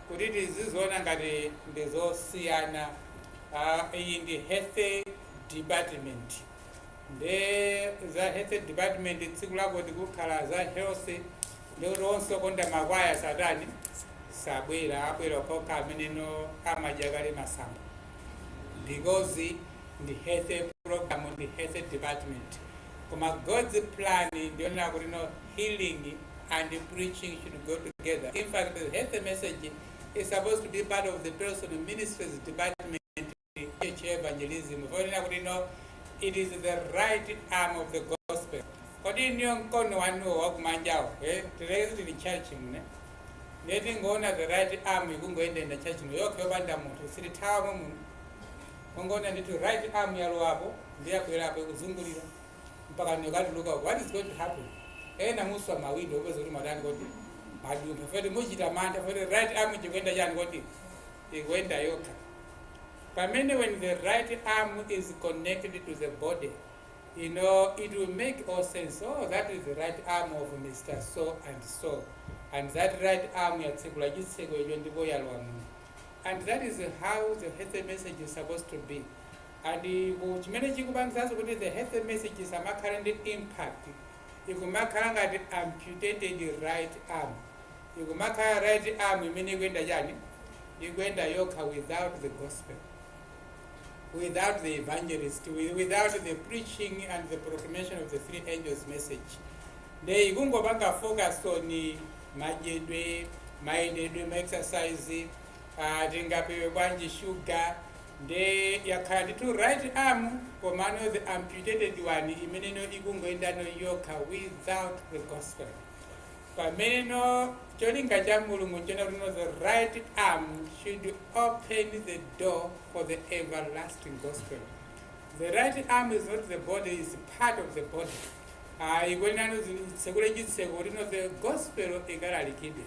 kuti tiziziona ngati ndizosiyana uh, iyi ndi health department nde za health department tsiku lako tikukamba za health ndikuti onse okonda makwaya samatani sabwera abwera okhaokha amene no amadya kale masamba because ndi health program ndi health department koma God's plan ndiyonena kuti no healing and preaching should go together. In fact, the health message is supposed to be part of the personal ministries department church evangelism. Fonena kuti no it is the right arm of the gospel. Kodi inuyo mkono wanuwo wakumanjawo eh? Tiyerekeze mu church muno ndiye tikungoona the right arm ikungoendenda church muno yokha yopanda munthu sitithawa muno kungoona ndithu right arm yalowapo ndiye yakwerapo ikuzungulira mpaka nkukatuluka uko. what is going to happen ena muswa mawindo mupeza kuti mwatani kodi mwadumpha foti mukuchita mantha foti right arm ikuyenda chani kodi ikuyenda yokha pamene when the right arm is connected to the body you know it will make all sense oh that is the right arm of mr so and so and that right arm yatsekula chitseko icho ndipo yalowa muno and that is how the health message is supposed to be And chimene chikupangitsanso kuti the health message isamakhale ndi impact ikumakhala ngati amputated right arm ikumakhala right arm imene ikuyenda chani ikuyenda yokha without the gospel without the evangelist without the preaching and the proclamation of the three angels message nde ikungopanga focus on madyedwe mayendedwe maexercise Aaa tingapewe bwanji sugar nde yakhala ndithu right arm komano the amputated one imeneno ikungoyendano yokha without the gospel pameneno cholinga cha mulungu nchona kuti the right arm should open the door for the everlasting gospel the right arm is not the body is part of the body ikuyenerano itsekule chitseko kuti no the gospel ikalalikidwe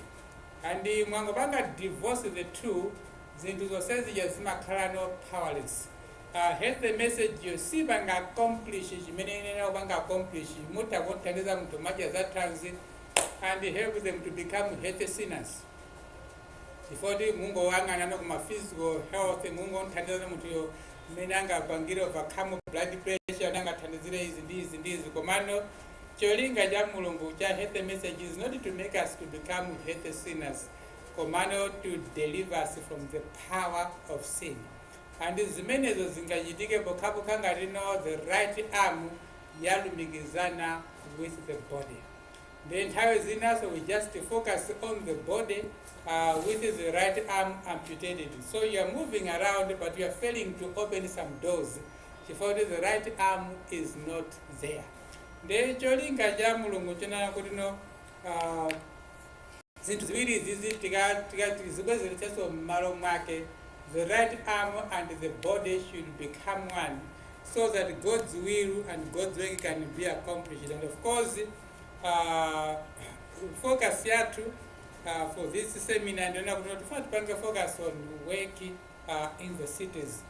And mwangopanga divorce the two zinthu zonsezija zimakhalano powerless. The health message yo sipanga accomplish chimene imayenera kupanga accomplish mutha kumthandiza munthu kumadya za thanzi and help them to become healthy sinners. Chifukwa mungoyang'anano kuma physical health mungomthandiza munthu yo mmene angapangire overcome blood pressure nangathandizire izi ndi izi ndi izi komano Cholinga cha Mulungu cha Healthy Message is not to make us to become healthy sinners, komano to deliver us from the power of sin. And zimenezo zingachitike pokhapokha ngati no the right arm yalumikizana with the body. Then nthawi zinaso we just focus on the body uh, with the right arm amputated. So you are moving around but you are failing to open some doors. Chifukwa kuti the right arm is not there nde cholinga cha mulungu choona kuti no uh, zinthu ziwiri izizi tikazibwezeretsanso mmalo mwake the right arm and the body should become one so that god's will and god's work can be accomplished and of course uh, focus yathu uh, for this seminar ndona kuti notifuna tipange focus on work uh, in the cities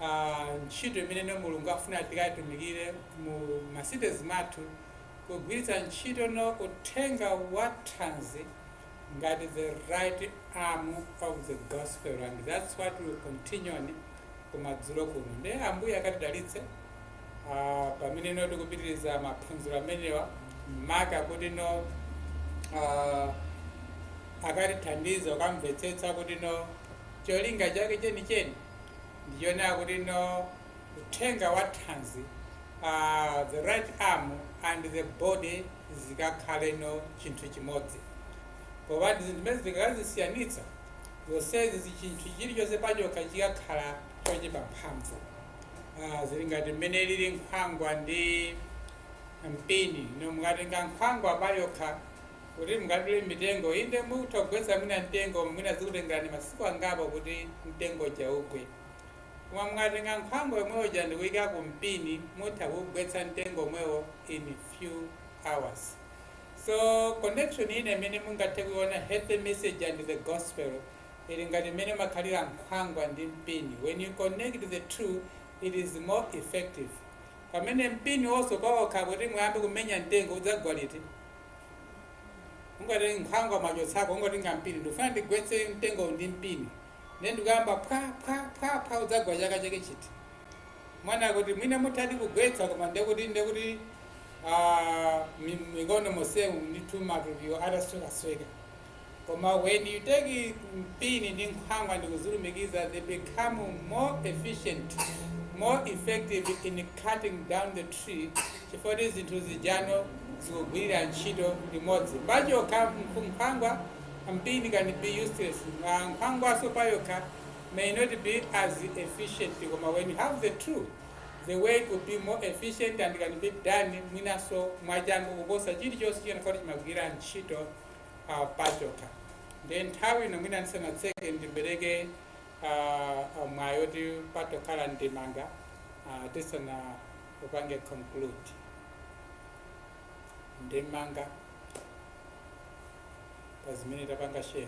uh, ntchito imene no mulungu afuna tikatumikire mu macities mathu kugwiritsa ntchito no uthenga wa thanzi ngati the right arm of the gospel and that's what we continue on kumadzulo kuno nde ambuye akatidalitse uh, pamene no tikupitiriza maphunziro amenewa maka kuti no uh, akatithandize kukamvetsetsa kuti no cholinga chake chenicheni ndichonena kuti no uthenga wa thanzi uh, the right arm and the body zikakhale no chinthu chimodzi popeza zinthu zimenezi ukazisiyanitsa zonsezi chinthu chilichonse pachokha chikakhala chochepa mphamvu Ah, zili ngati mmene lili nkhwangwa ndi mpini no mukatenga nkhwangwa payokha kuti mungadule mitengo. Inde, mutha kugwetsa mwina mtengo, koma mwina zikutengerani masiku angapo kuti mtengo uja ugwe. Koma mukatenga nkhwangwa yomwe ija ndi kuyika ku mpini, mutha kuwugwetsa mtengo omwewo in few hours. So connection ina imene mungathe kuiona health message and the gospel ili ngati mmene imakhalira nkhwangwa ndi mpini. When you connect the two, it is more effective. Pamene mpiniwonso pawokha kuti muyambe kumenya mtengo udzagwa liti? kungoti nkhwangwa mwachotsako kungotenga mpini ndikufuna ndigwetse mtengo ndi mpini nde ndikuyamba phwa phwa phwa phwa udzagwa chaka chake chiti muona kuti mwina muthadi kugwetsa koma ndekuti ndekuti ah, mi- mikono mosemu ndithu matupiwo ataswekasweka koma when you take mpini ndi nkhwangwa ndikuzilumikiza they become more efficient more effective in cutting down the tree chifukwa kuti zinthu zijano zikugwirira ntchito limodzi pachokha nkhu- nkhwangwa mpini can be useless Ma- nkhwangwaso payokha may not be as efficient koma when you have the two the work could be more efficient and can be done mwinaso mwachangu kuposa chilichonse chimene chimagwirira ntchito uh, pachokha nde nthawi ino mwina ndisanatseke ndipereke uh, uh, mwayi oti patakhala ndemanga uh, tisanaupange conclude ndemanga pazimene tapanga share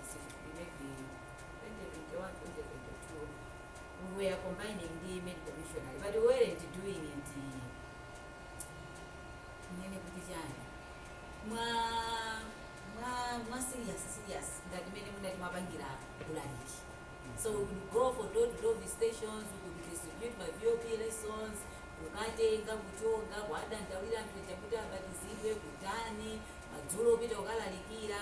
we were combining the medical missionary, but we weren't doing it. Ndinene kuti chani? Mwa mwa mwa serious serious ngati mmene timapangira ulaliki. So we could go for door to door visitations, we could distribute ma VOP lessons, kukatenga kuchonga kuwadandaulira anthu aja kuti abatizidwe kutani madzulo kupita kukalalikira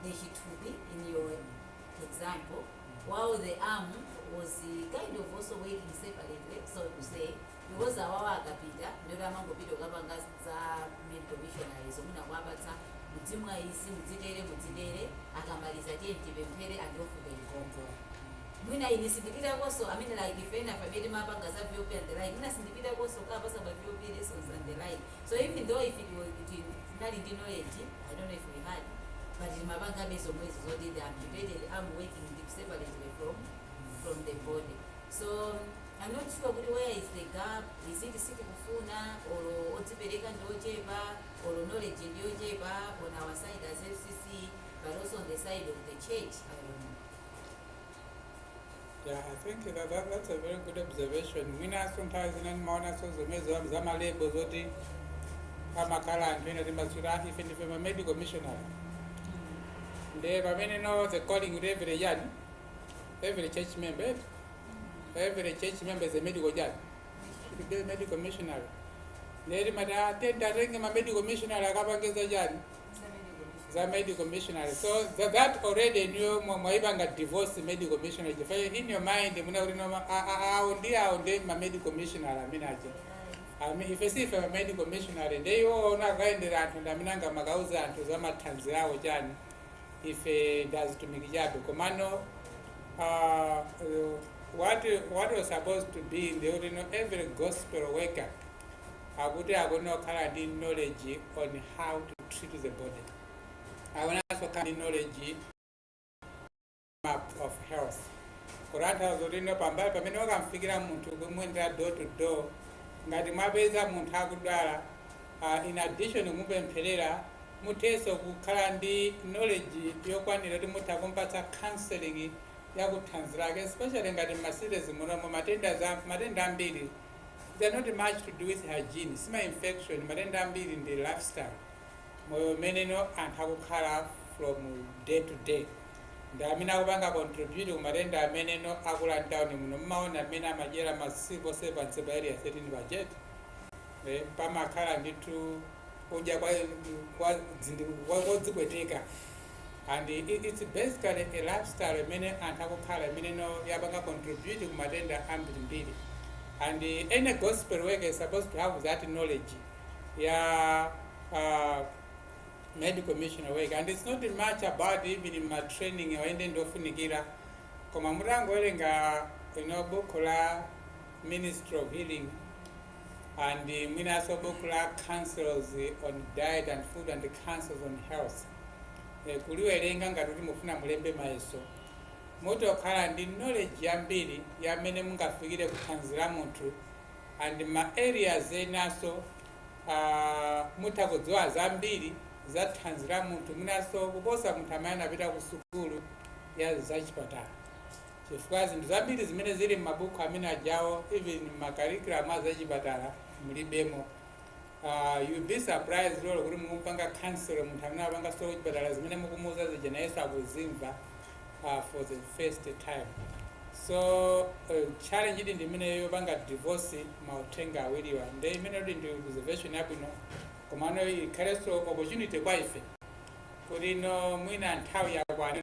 nde chithupi in your example, while the arm was uh, kind of also working separately, so to say, because awawa akapita ndi oti amangopita ukapanga za medical missionaries mwina kuwapatsa mudzimwa izi mudzitere mudzitere akamaliza tiye tipemphere andiofuke mgongo mwina ine sindipitakonso I mean like ife amene timapanga za vop and the like mwina sindipitakonso kukapatsa ma vop lessons and the like So even though if it was kuti tinali ndi knowledge, I don't know if we had, but timapangabe zomwezo zoti the amputated arm working separately from from the body. So I'm not sure kuti where is the gap, is it sitikufuna or odzipereka ndi ochepa or knowledge ndi yochepa on our side as FCC but also on the side of the church, I don't know. Yeah, I think that, that, that's a very good observation. Mwinaso nthawi zina ndimaonaso zomwe za- za malebo zoti amakhala anthu ena timasula ife ndife ma medical missionary. Nde pamene no the calling kuti every year every church member eh? every church member is a medical chani. Should be a medical missionary. Nde timati ah, tendatenge ma medical missionary akapangiza chani. za medical missionary so that, that already niyo mwaipanga divorce medical missionary chifukwa in your mind muna kuti no ma a- a- awo ndi awo ndi ma medical missionary amene aja Ami- ife si ife ma medical missionary ndi iwo ndiwo akayendera anthu ndi amene angamakauza anthu za mathanzi awo chani ife ndazitumiki chabe komano uh, what, what was supposed to be ndi kuti no every gospel worker akuti akuyenera kukhala ndi knowledge on how to treat the body akuyenera kukhala ndi knowledge map of health kutanthauza kuti ino pambali pamene mwakamfikira munthu kumuyendera door to door ngati mwapeza munthu akudwala uh, in addition kumupempherera muthenso kukhala ndi knowledge yokwanira kuti mutha kumpatsa counseling yakuthanzi lake especially ngati m'macities munomo matenda ambiri they're not much to do with hygiene sima infection matenda ambiri ndi lifestyle moyo umene anthu akukhala from day to day ndi amene akupanga contribute ku matenda ameneno akula mtawuni muno mumaona mmene amadyera masiku onse pansi pa area 13 budget eh, pamakhala ndithu kudya kwa- kwa- dzindi- kwa- kodzipweteka and it's basically a lifestyle imene anthu akukhala imene yapanga contribute ku matenda ambirimbiri and any gospel worker is supposed to have that knowledge ya uh, medical missionary work and it's not much about even ma training oyende ndofunikira koma mutangowerenga inu buku la ministry of healing and mwinaso buku la counsels on diet and food and counsels on health e, kuliwerenga ngati kuti mufuna mulembe mayeso mutha kukhala ndi knowledge yambiri yamene mungafikire kuthanzi la munthu and ma areas enaso uh, mutha kudziwa zambiri za thanzi la munthu mwinaso kuposa munthu amene anapita ku sukulu ya zachipatala chifukwa zinthu zambiri zimene zili m'mabuku amene ajawo even m'ma curriculum a zachipatala mulibemo uh, you'll be surprised lolo kuti mukumpanga counsel munthu amene apanga zakuchipatala zimene mukumuuza zija nayenso akuzimva uh, for the first time so uh, challenge ili ndi imene yopanga divorce mauthenga awiriwa nde imene kuti ndi observation yabwino komano ikhalenso opportunity kwa ife kuti no mwina nthawi yakwana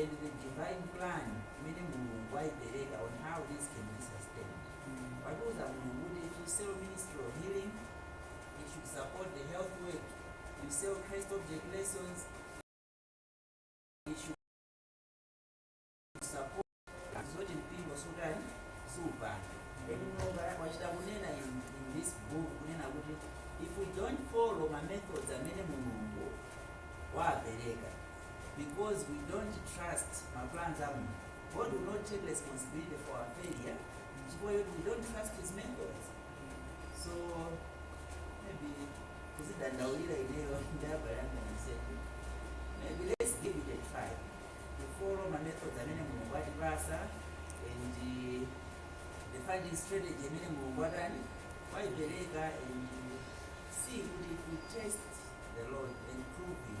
and the divine plan imene mulungu wayipereka on how this can be sustained watiuza mulungu kuti if you sell ministry of healing it should support the health work you sell christ object lessons it should support zoti mpingo sudali kupanga then mulungu wachita kunena in, in this book kunena kuti if we don't follow ma methods amene mulungu wapereka because we don't trust ma plans a Mulungu. God will not take responsibility for our failure chifukwa choti we don't trust his methods. So maybe kuzidandaulira ineyo ndi abale anga a sema maybe let's give it a try to follow ma methods amene Mulungu watipasa and uh, the funding strategy amene Mulungu atani waipereka and see kuti if we test the Lord and prove him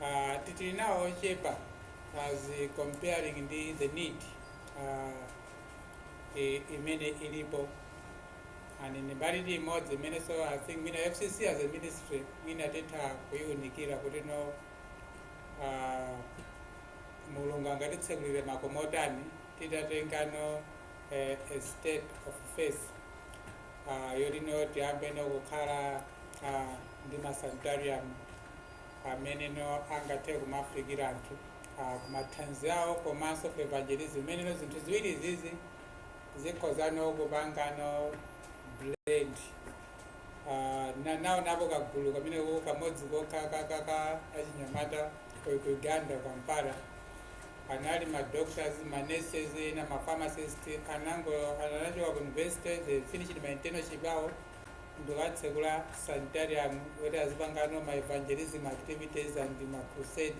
uh, tili nawo ochepa as comparing ndi the need uh, i- imene ilipo and ndi mbali imodzi imene so i think mwina fcc as a ministry mwina titha kuyiunikira kuti no uh, mulungu angatitsegulire makomo otani titatengano eh, a step of faith uh, yoti no tiyambe no kukhala uh, ndi masanitarium ameneno angathe kumafikira anthu ah, ku mathanzi awo komanso ku evangelism imeneno zinthu ziwiri izizi zikhozano kupangano blend Ah, na- naonapo kagulu kamene ko- kamodzi kokha ka- ka- ka achinyamata ku- ku uganda kampala anali ma doctors ma nurses na ma pharmacist atangochoka ku university they finished ma internship awo n'kukatsekula sanitarium kuti azipangano ma evangelism activities and ma crusade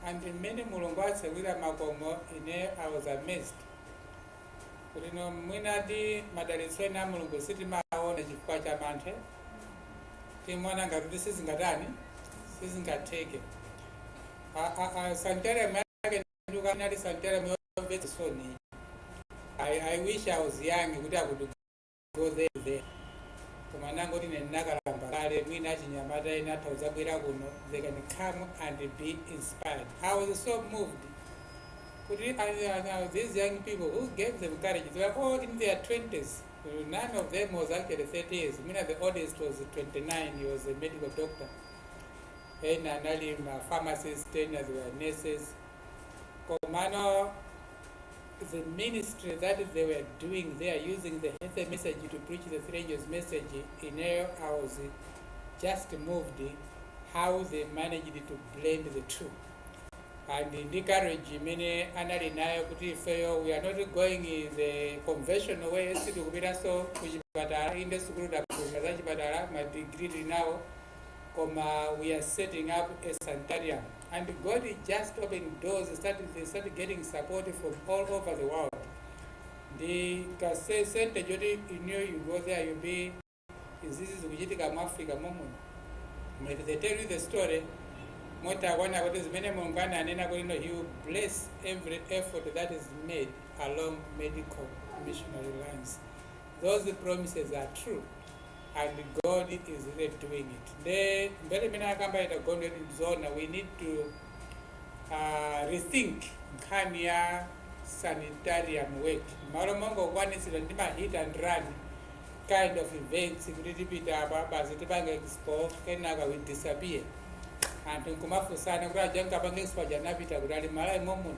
and mmene mulungu atsekulira makomo ine i was amazed kuti no mwinadi madalitso ena a mulungu sitimaona chifukwa cha mantha timona ngati kuti sizingatani sizingatheke sanitarium yake ndi kuti inali sanitarium yomvetsa chisoni I, I wish I was young kuti I could go there koma nangoti ine ndinakalamba kale mwina achinyamata ena atha kudzabwera kuno they can come and be inspired i was so moved kuti I- I- I- these young people who gave them courage they were all in their 20s none of them was actually 30 years mwina the oldest was 29 he was a medical doctor ena anali ma pharmacist ena they were nurses komano the ministry that they were doing there using the health message to preach the three angels message ineyo i was just moved how they managed to blend the two and ndi courage imene anali nayo kuti ifeyo we are not going the conventional way sitikupitanso ku chipatala inde sukulu taphunzira za chipatala madigiri tili nawo koma we are setting up a sanitarium and God is just opening doors they start getting support from all over the world ndi ka se- center choti inuyo you go there you be izizi zikuchitika mu africa momwe But if they tell you the story mutha kuona kuti zimene mulungu ananena kuti no he will bless every effort that is made along medical missionary lines those promises are true and god is really doing it nde mbali imene akamba elder gondwe ndizona we need to uh, rethink nkhani ya sanitarium work m'malo mongokwanitsidwa ndi ma hit and run kind of events kuti tipita apo basi tipange expo kenaka we disappear anthu nkumafunsana kuti aja ankapanga expo aja anapita kuti ali m'malawi momuno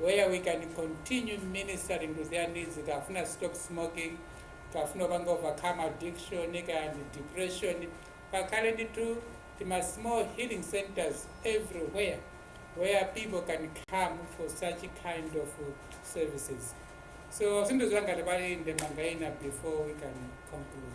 where we can continue ministering to their needs kafuna stop smoking kafuna kupanga overcome addiction kaya ndi depression pakhale ndithu tima small healing centers everywhere where people can come for such kind of services so sindidziwa ngati pali ndemanga ina before we can conclude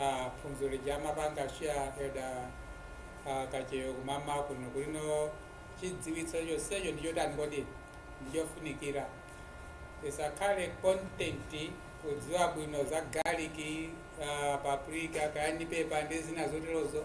ah, phunziro lija amapanga share elder ah, kacheyo kummawa kuno kulino chidziwitso chonsecho ndi chotani kodi ndi chofunikira tisakhale content kudziwa bwino za garlic ah, paprika cayenne pepper ndi zina zoterozo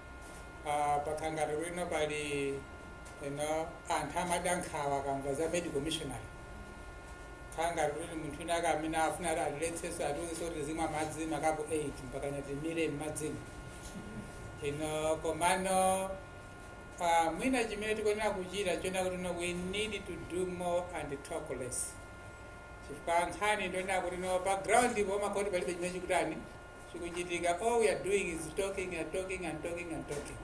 uh, pakhala ngati kuti no pali you know, anthu amada nkhawa akamva za medical missionary kukhala ngati kuti munthu wina wake amene afuna atiletsenso atiuze kuti tizimwa madzi makapu 8 mpaka titamira m'madzimo ino komano uh, mwina chimene tikuyenera kuchita chonena kuti no we need to do more and talk less chifukwa nkhani ndi yonena kuti no pa ground pomakhala ngati palibe chimene chikutani chikuchitika all we are doing is talking and talking and talking and talking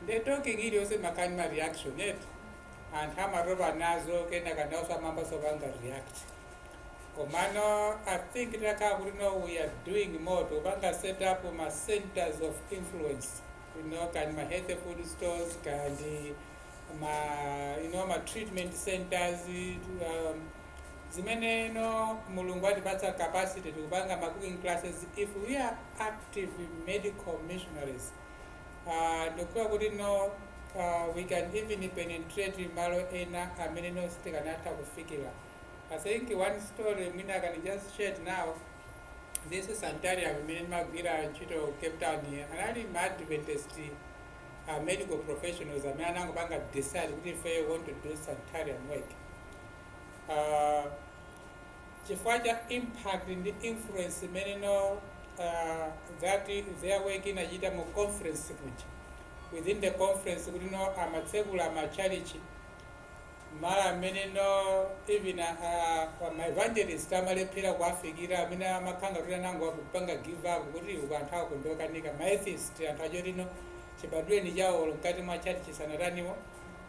nde talking iliyonse makani ma reaction eti anthu amatopa nazo kena kandaoso amambaso panga react komano i think takhala kuti no we are doing more tikupanga set up ma centers of influence you know kani ma healthy food stores kandi ma you know ma treatment centers um, zimene you know mulungu watipatsa capacity tikupanga ma cooking classes if we are active medical missionaries uh, ndikuona kuti no uh, we can even penetrate malo ena amene no sitikanatha kufikira i think one story mwina i can just share it now this sanitarium imene ndimagwira ntchito ku cape town here anali ma adventist uh, medical professionals amene anangopanga decide kuti ife want to do sanitarium work uh, chifukwa cha impact ndi influence imene no uh, that their work inachita mu conference kuja within the conference kuti no amatsekula machalichi malo amene no even uh, ma evangelist amalephera kuwafikira amene amakhala kuti anangopanga give up kuti uku anthu akungokanika ma atheist anthu achotino chibadwireni chawo mkati mwa chalichi sanataniwo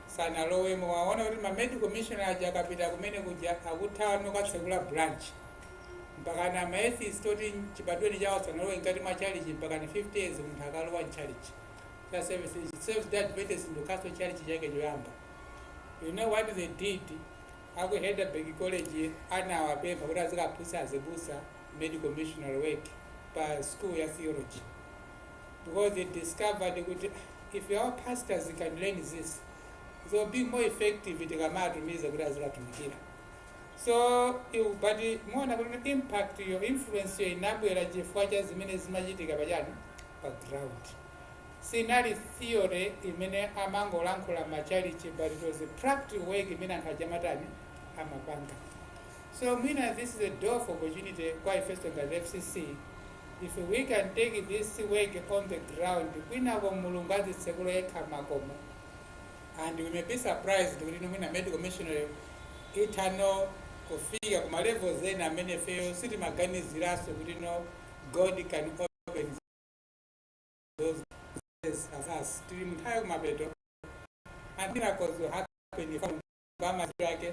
sanalowemo waona kuti ma medical missionary aja akapita kumene kuja akutha kukatsekula branch mpakana ma atheist oti chibadwireni chawo sanalowe mkati mwa chalichi mpakana 50 years munthu akalowa mchalichi cha Seventh-day Adventist ndo chalichi chake choyamba you know what they did aku Helderberg college anawapempha kuti azikaphunzitsa azibusa medical missionary work pa school ya theology because they discovered kuti ah, if our pastors can learn this they'll be more effective tikamatumiza kuti azikatumikira so but muona kuti impact yo influence yo inabwera chifukwa cha zimene zimachitika pachani pa ground sinali theory imene amangolankhula machalichi but it was a practical work imene anthu achinyamatawa amapanga so mwina this is a door for opportunity kwa ifenso ngati fcc If we can take this work on the ground kwinako Mulungu adzitsekula yekha makomo and we may be surprised kuti no mwina medical missionary itha no kufika ku malevels ena amene ifeyo sitimaganiziranso kuti no God can open those places as us tili mnthawi yakumapeto and miracles will happen if Obama yake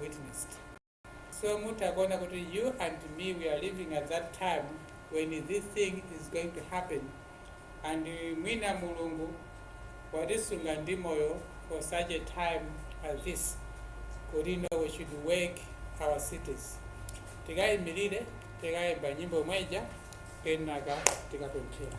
witnessed. So mutha kuona kuti you and me we are living at that time when this thing is going to happen and mwina mulungu watisunga ndi moyo for such a time as this kuti you know we should work our cities tikaimirire tikaimba nyimbo imwe ija kenaka tikapemphera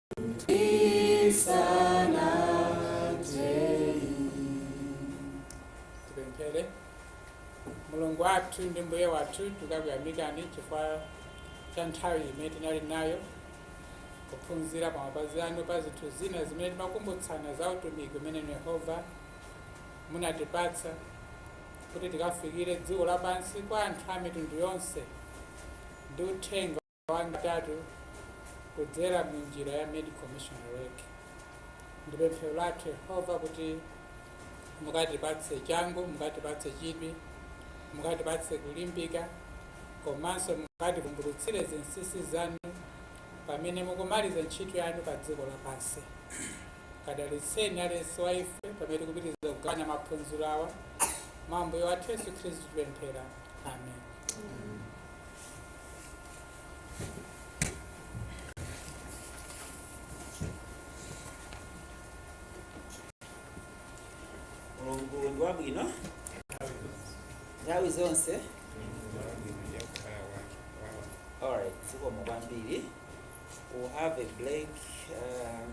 tipemphere mulungu wathu ndi mbuye wathu tikukuyamikani chifukwa cha nthawi imene tinali nayo kuphunzira pa mapazi anu pa zinthu zina zimene timakumbutsana za utumiki umene inu yehova munatipatsa kuti tikafikire dziko lapansi kwa anthu a mitundu yonse ndi uthenga atatu kudzera mu njira ya medical missionary work ndi pemphero lathu yehova kuti mukatipatse changu mukatipatse chidwi mukatipatse kulimbika komanso mukativumbulutsire zinsinsi zanu pamene mukumaliza ntchito yanu pa dziko lapansi kadalitseni aliyense wa ife pamene tikupitiriza kugawana maphunziro awa mwa ambuye wathu yesu khristu tipemphera amen mulungu ndi wabwino nthawi zonse alright zikomo kwambiri we'll have a break um,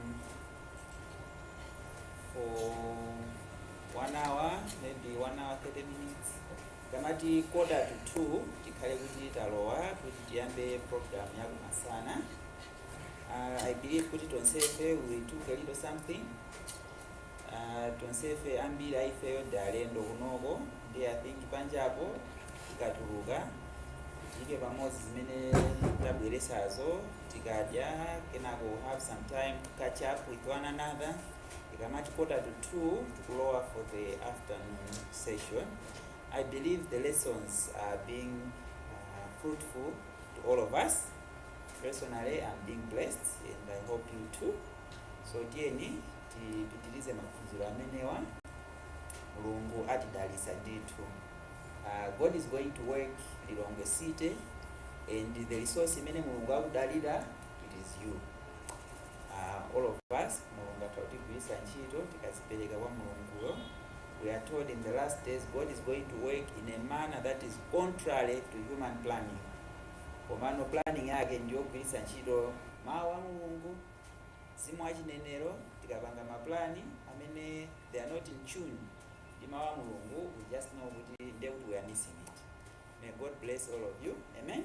for one hour maybe one hour 30 minutes Tikamati quarter to 2 tikhale kuti talowa kuti tiyambe program ya kumasana. Uh, I believe kuti tonsefe we took a little something. Uh, tonsefe ambiri aifeyo ndi alendo kunoko ndi I think panjapo tikatuluka tiyike pamodzi zimene tabweretsazo tikadya kenako we'll have some time to catch up with one another. Tikamati quarter to 2 tikulowa for the afternoon session. I believe the lessons are being uh, fruitful to all of us. Personally, I'm being blessed and I hope you too. So tiyeni tipitirize maphunziro amenewa mulungu atidalitsa ndithu uh, god is going to work lilongwe city and the resource imene mulungu akudalira it is you uh, all of us mulungu atha kutigwiritsa ntchito tikazipereka kwa mulunguyo we are told in the last days God is going to work in a manner that is contrary to human planning komano planning yake ndiyogwiritsa ntchito mawu a mulungu mzimu wa chinenero tikapanga maplani amene they are not in tune ndi mawu a mulungu we just know kuti nde kuti we are missing it may god bless all of you amen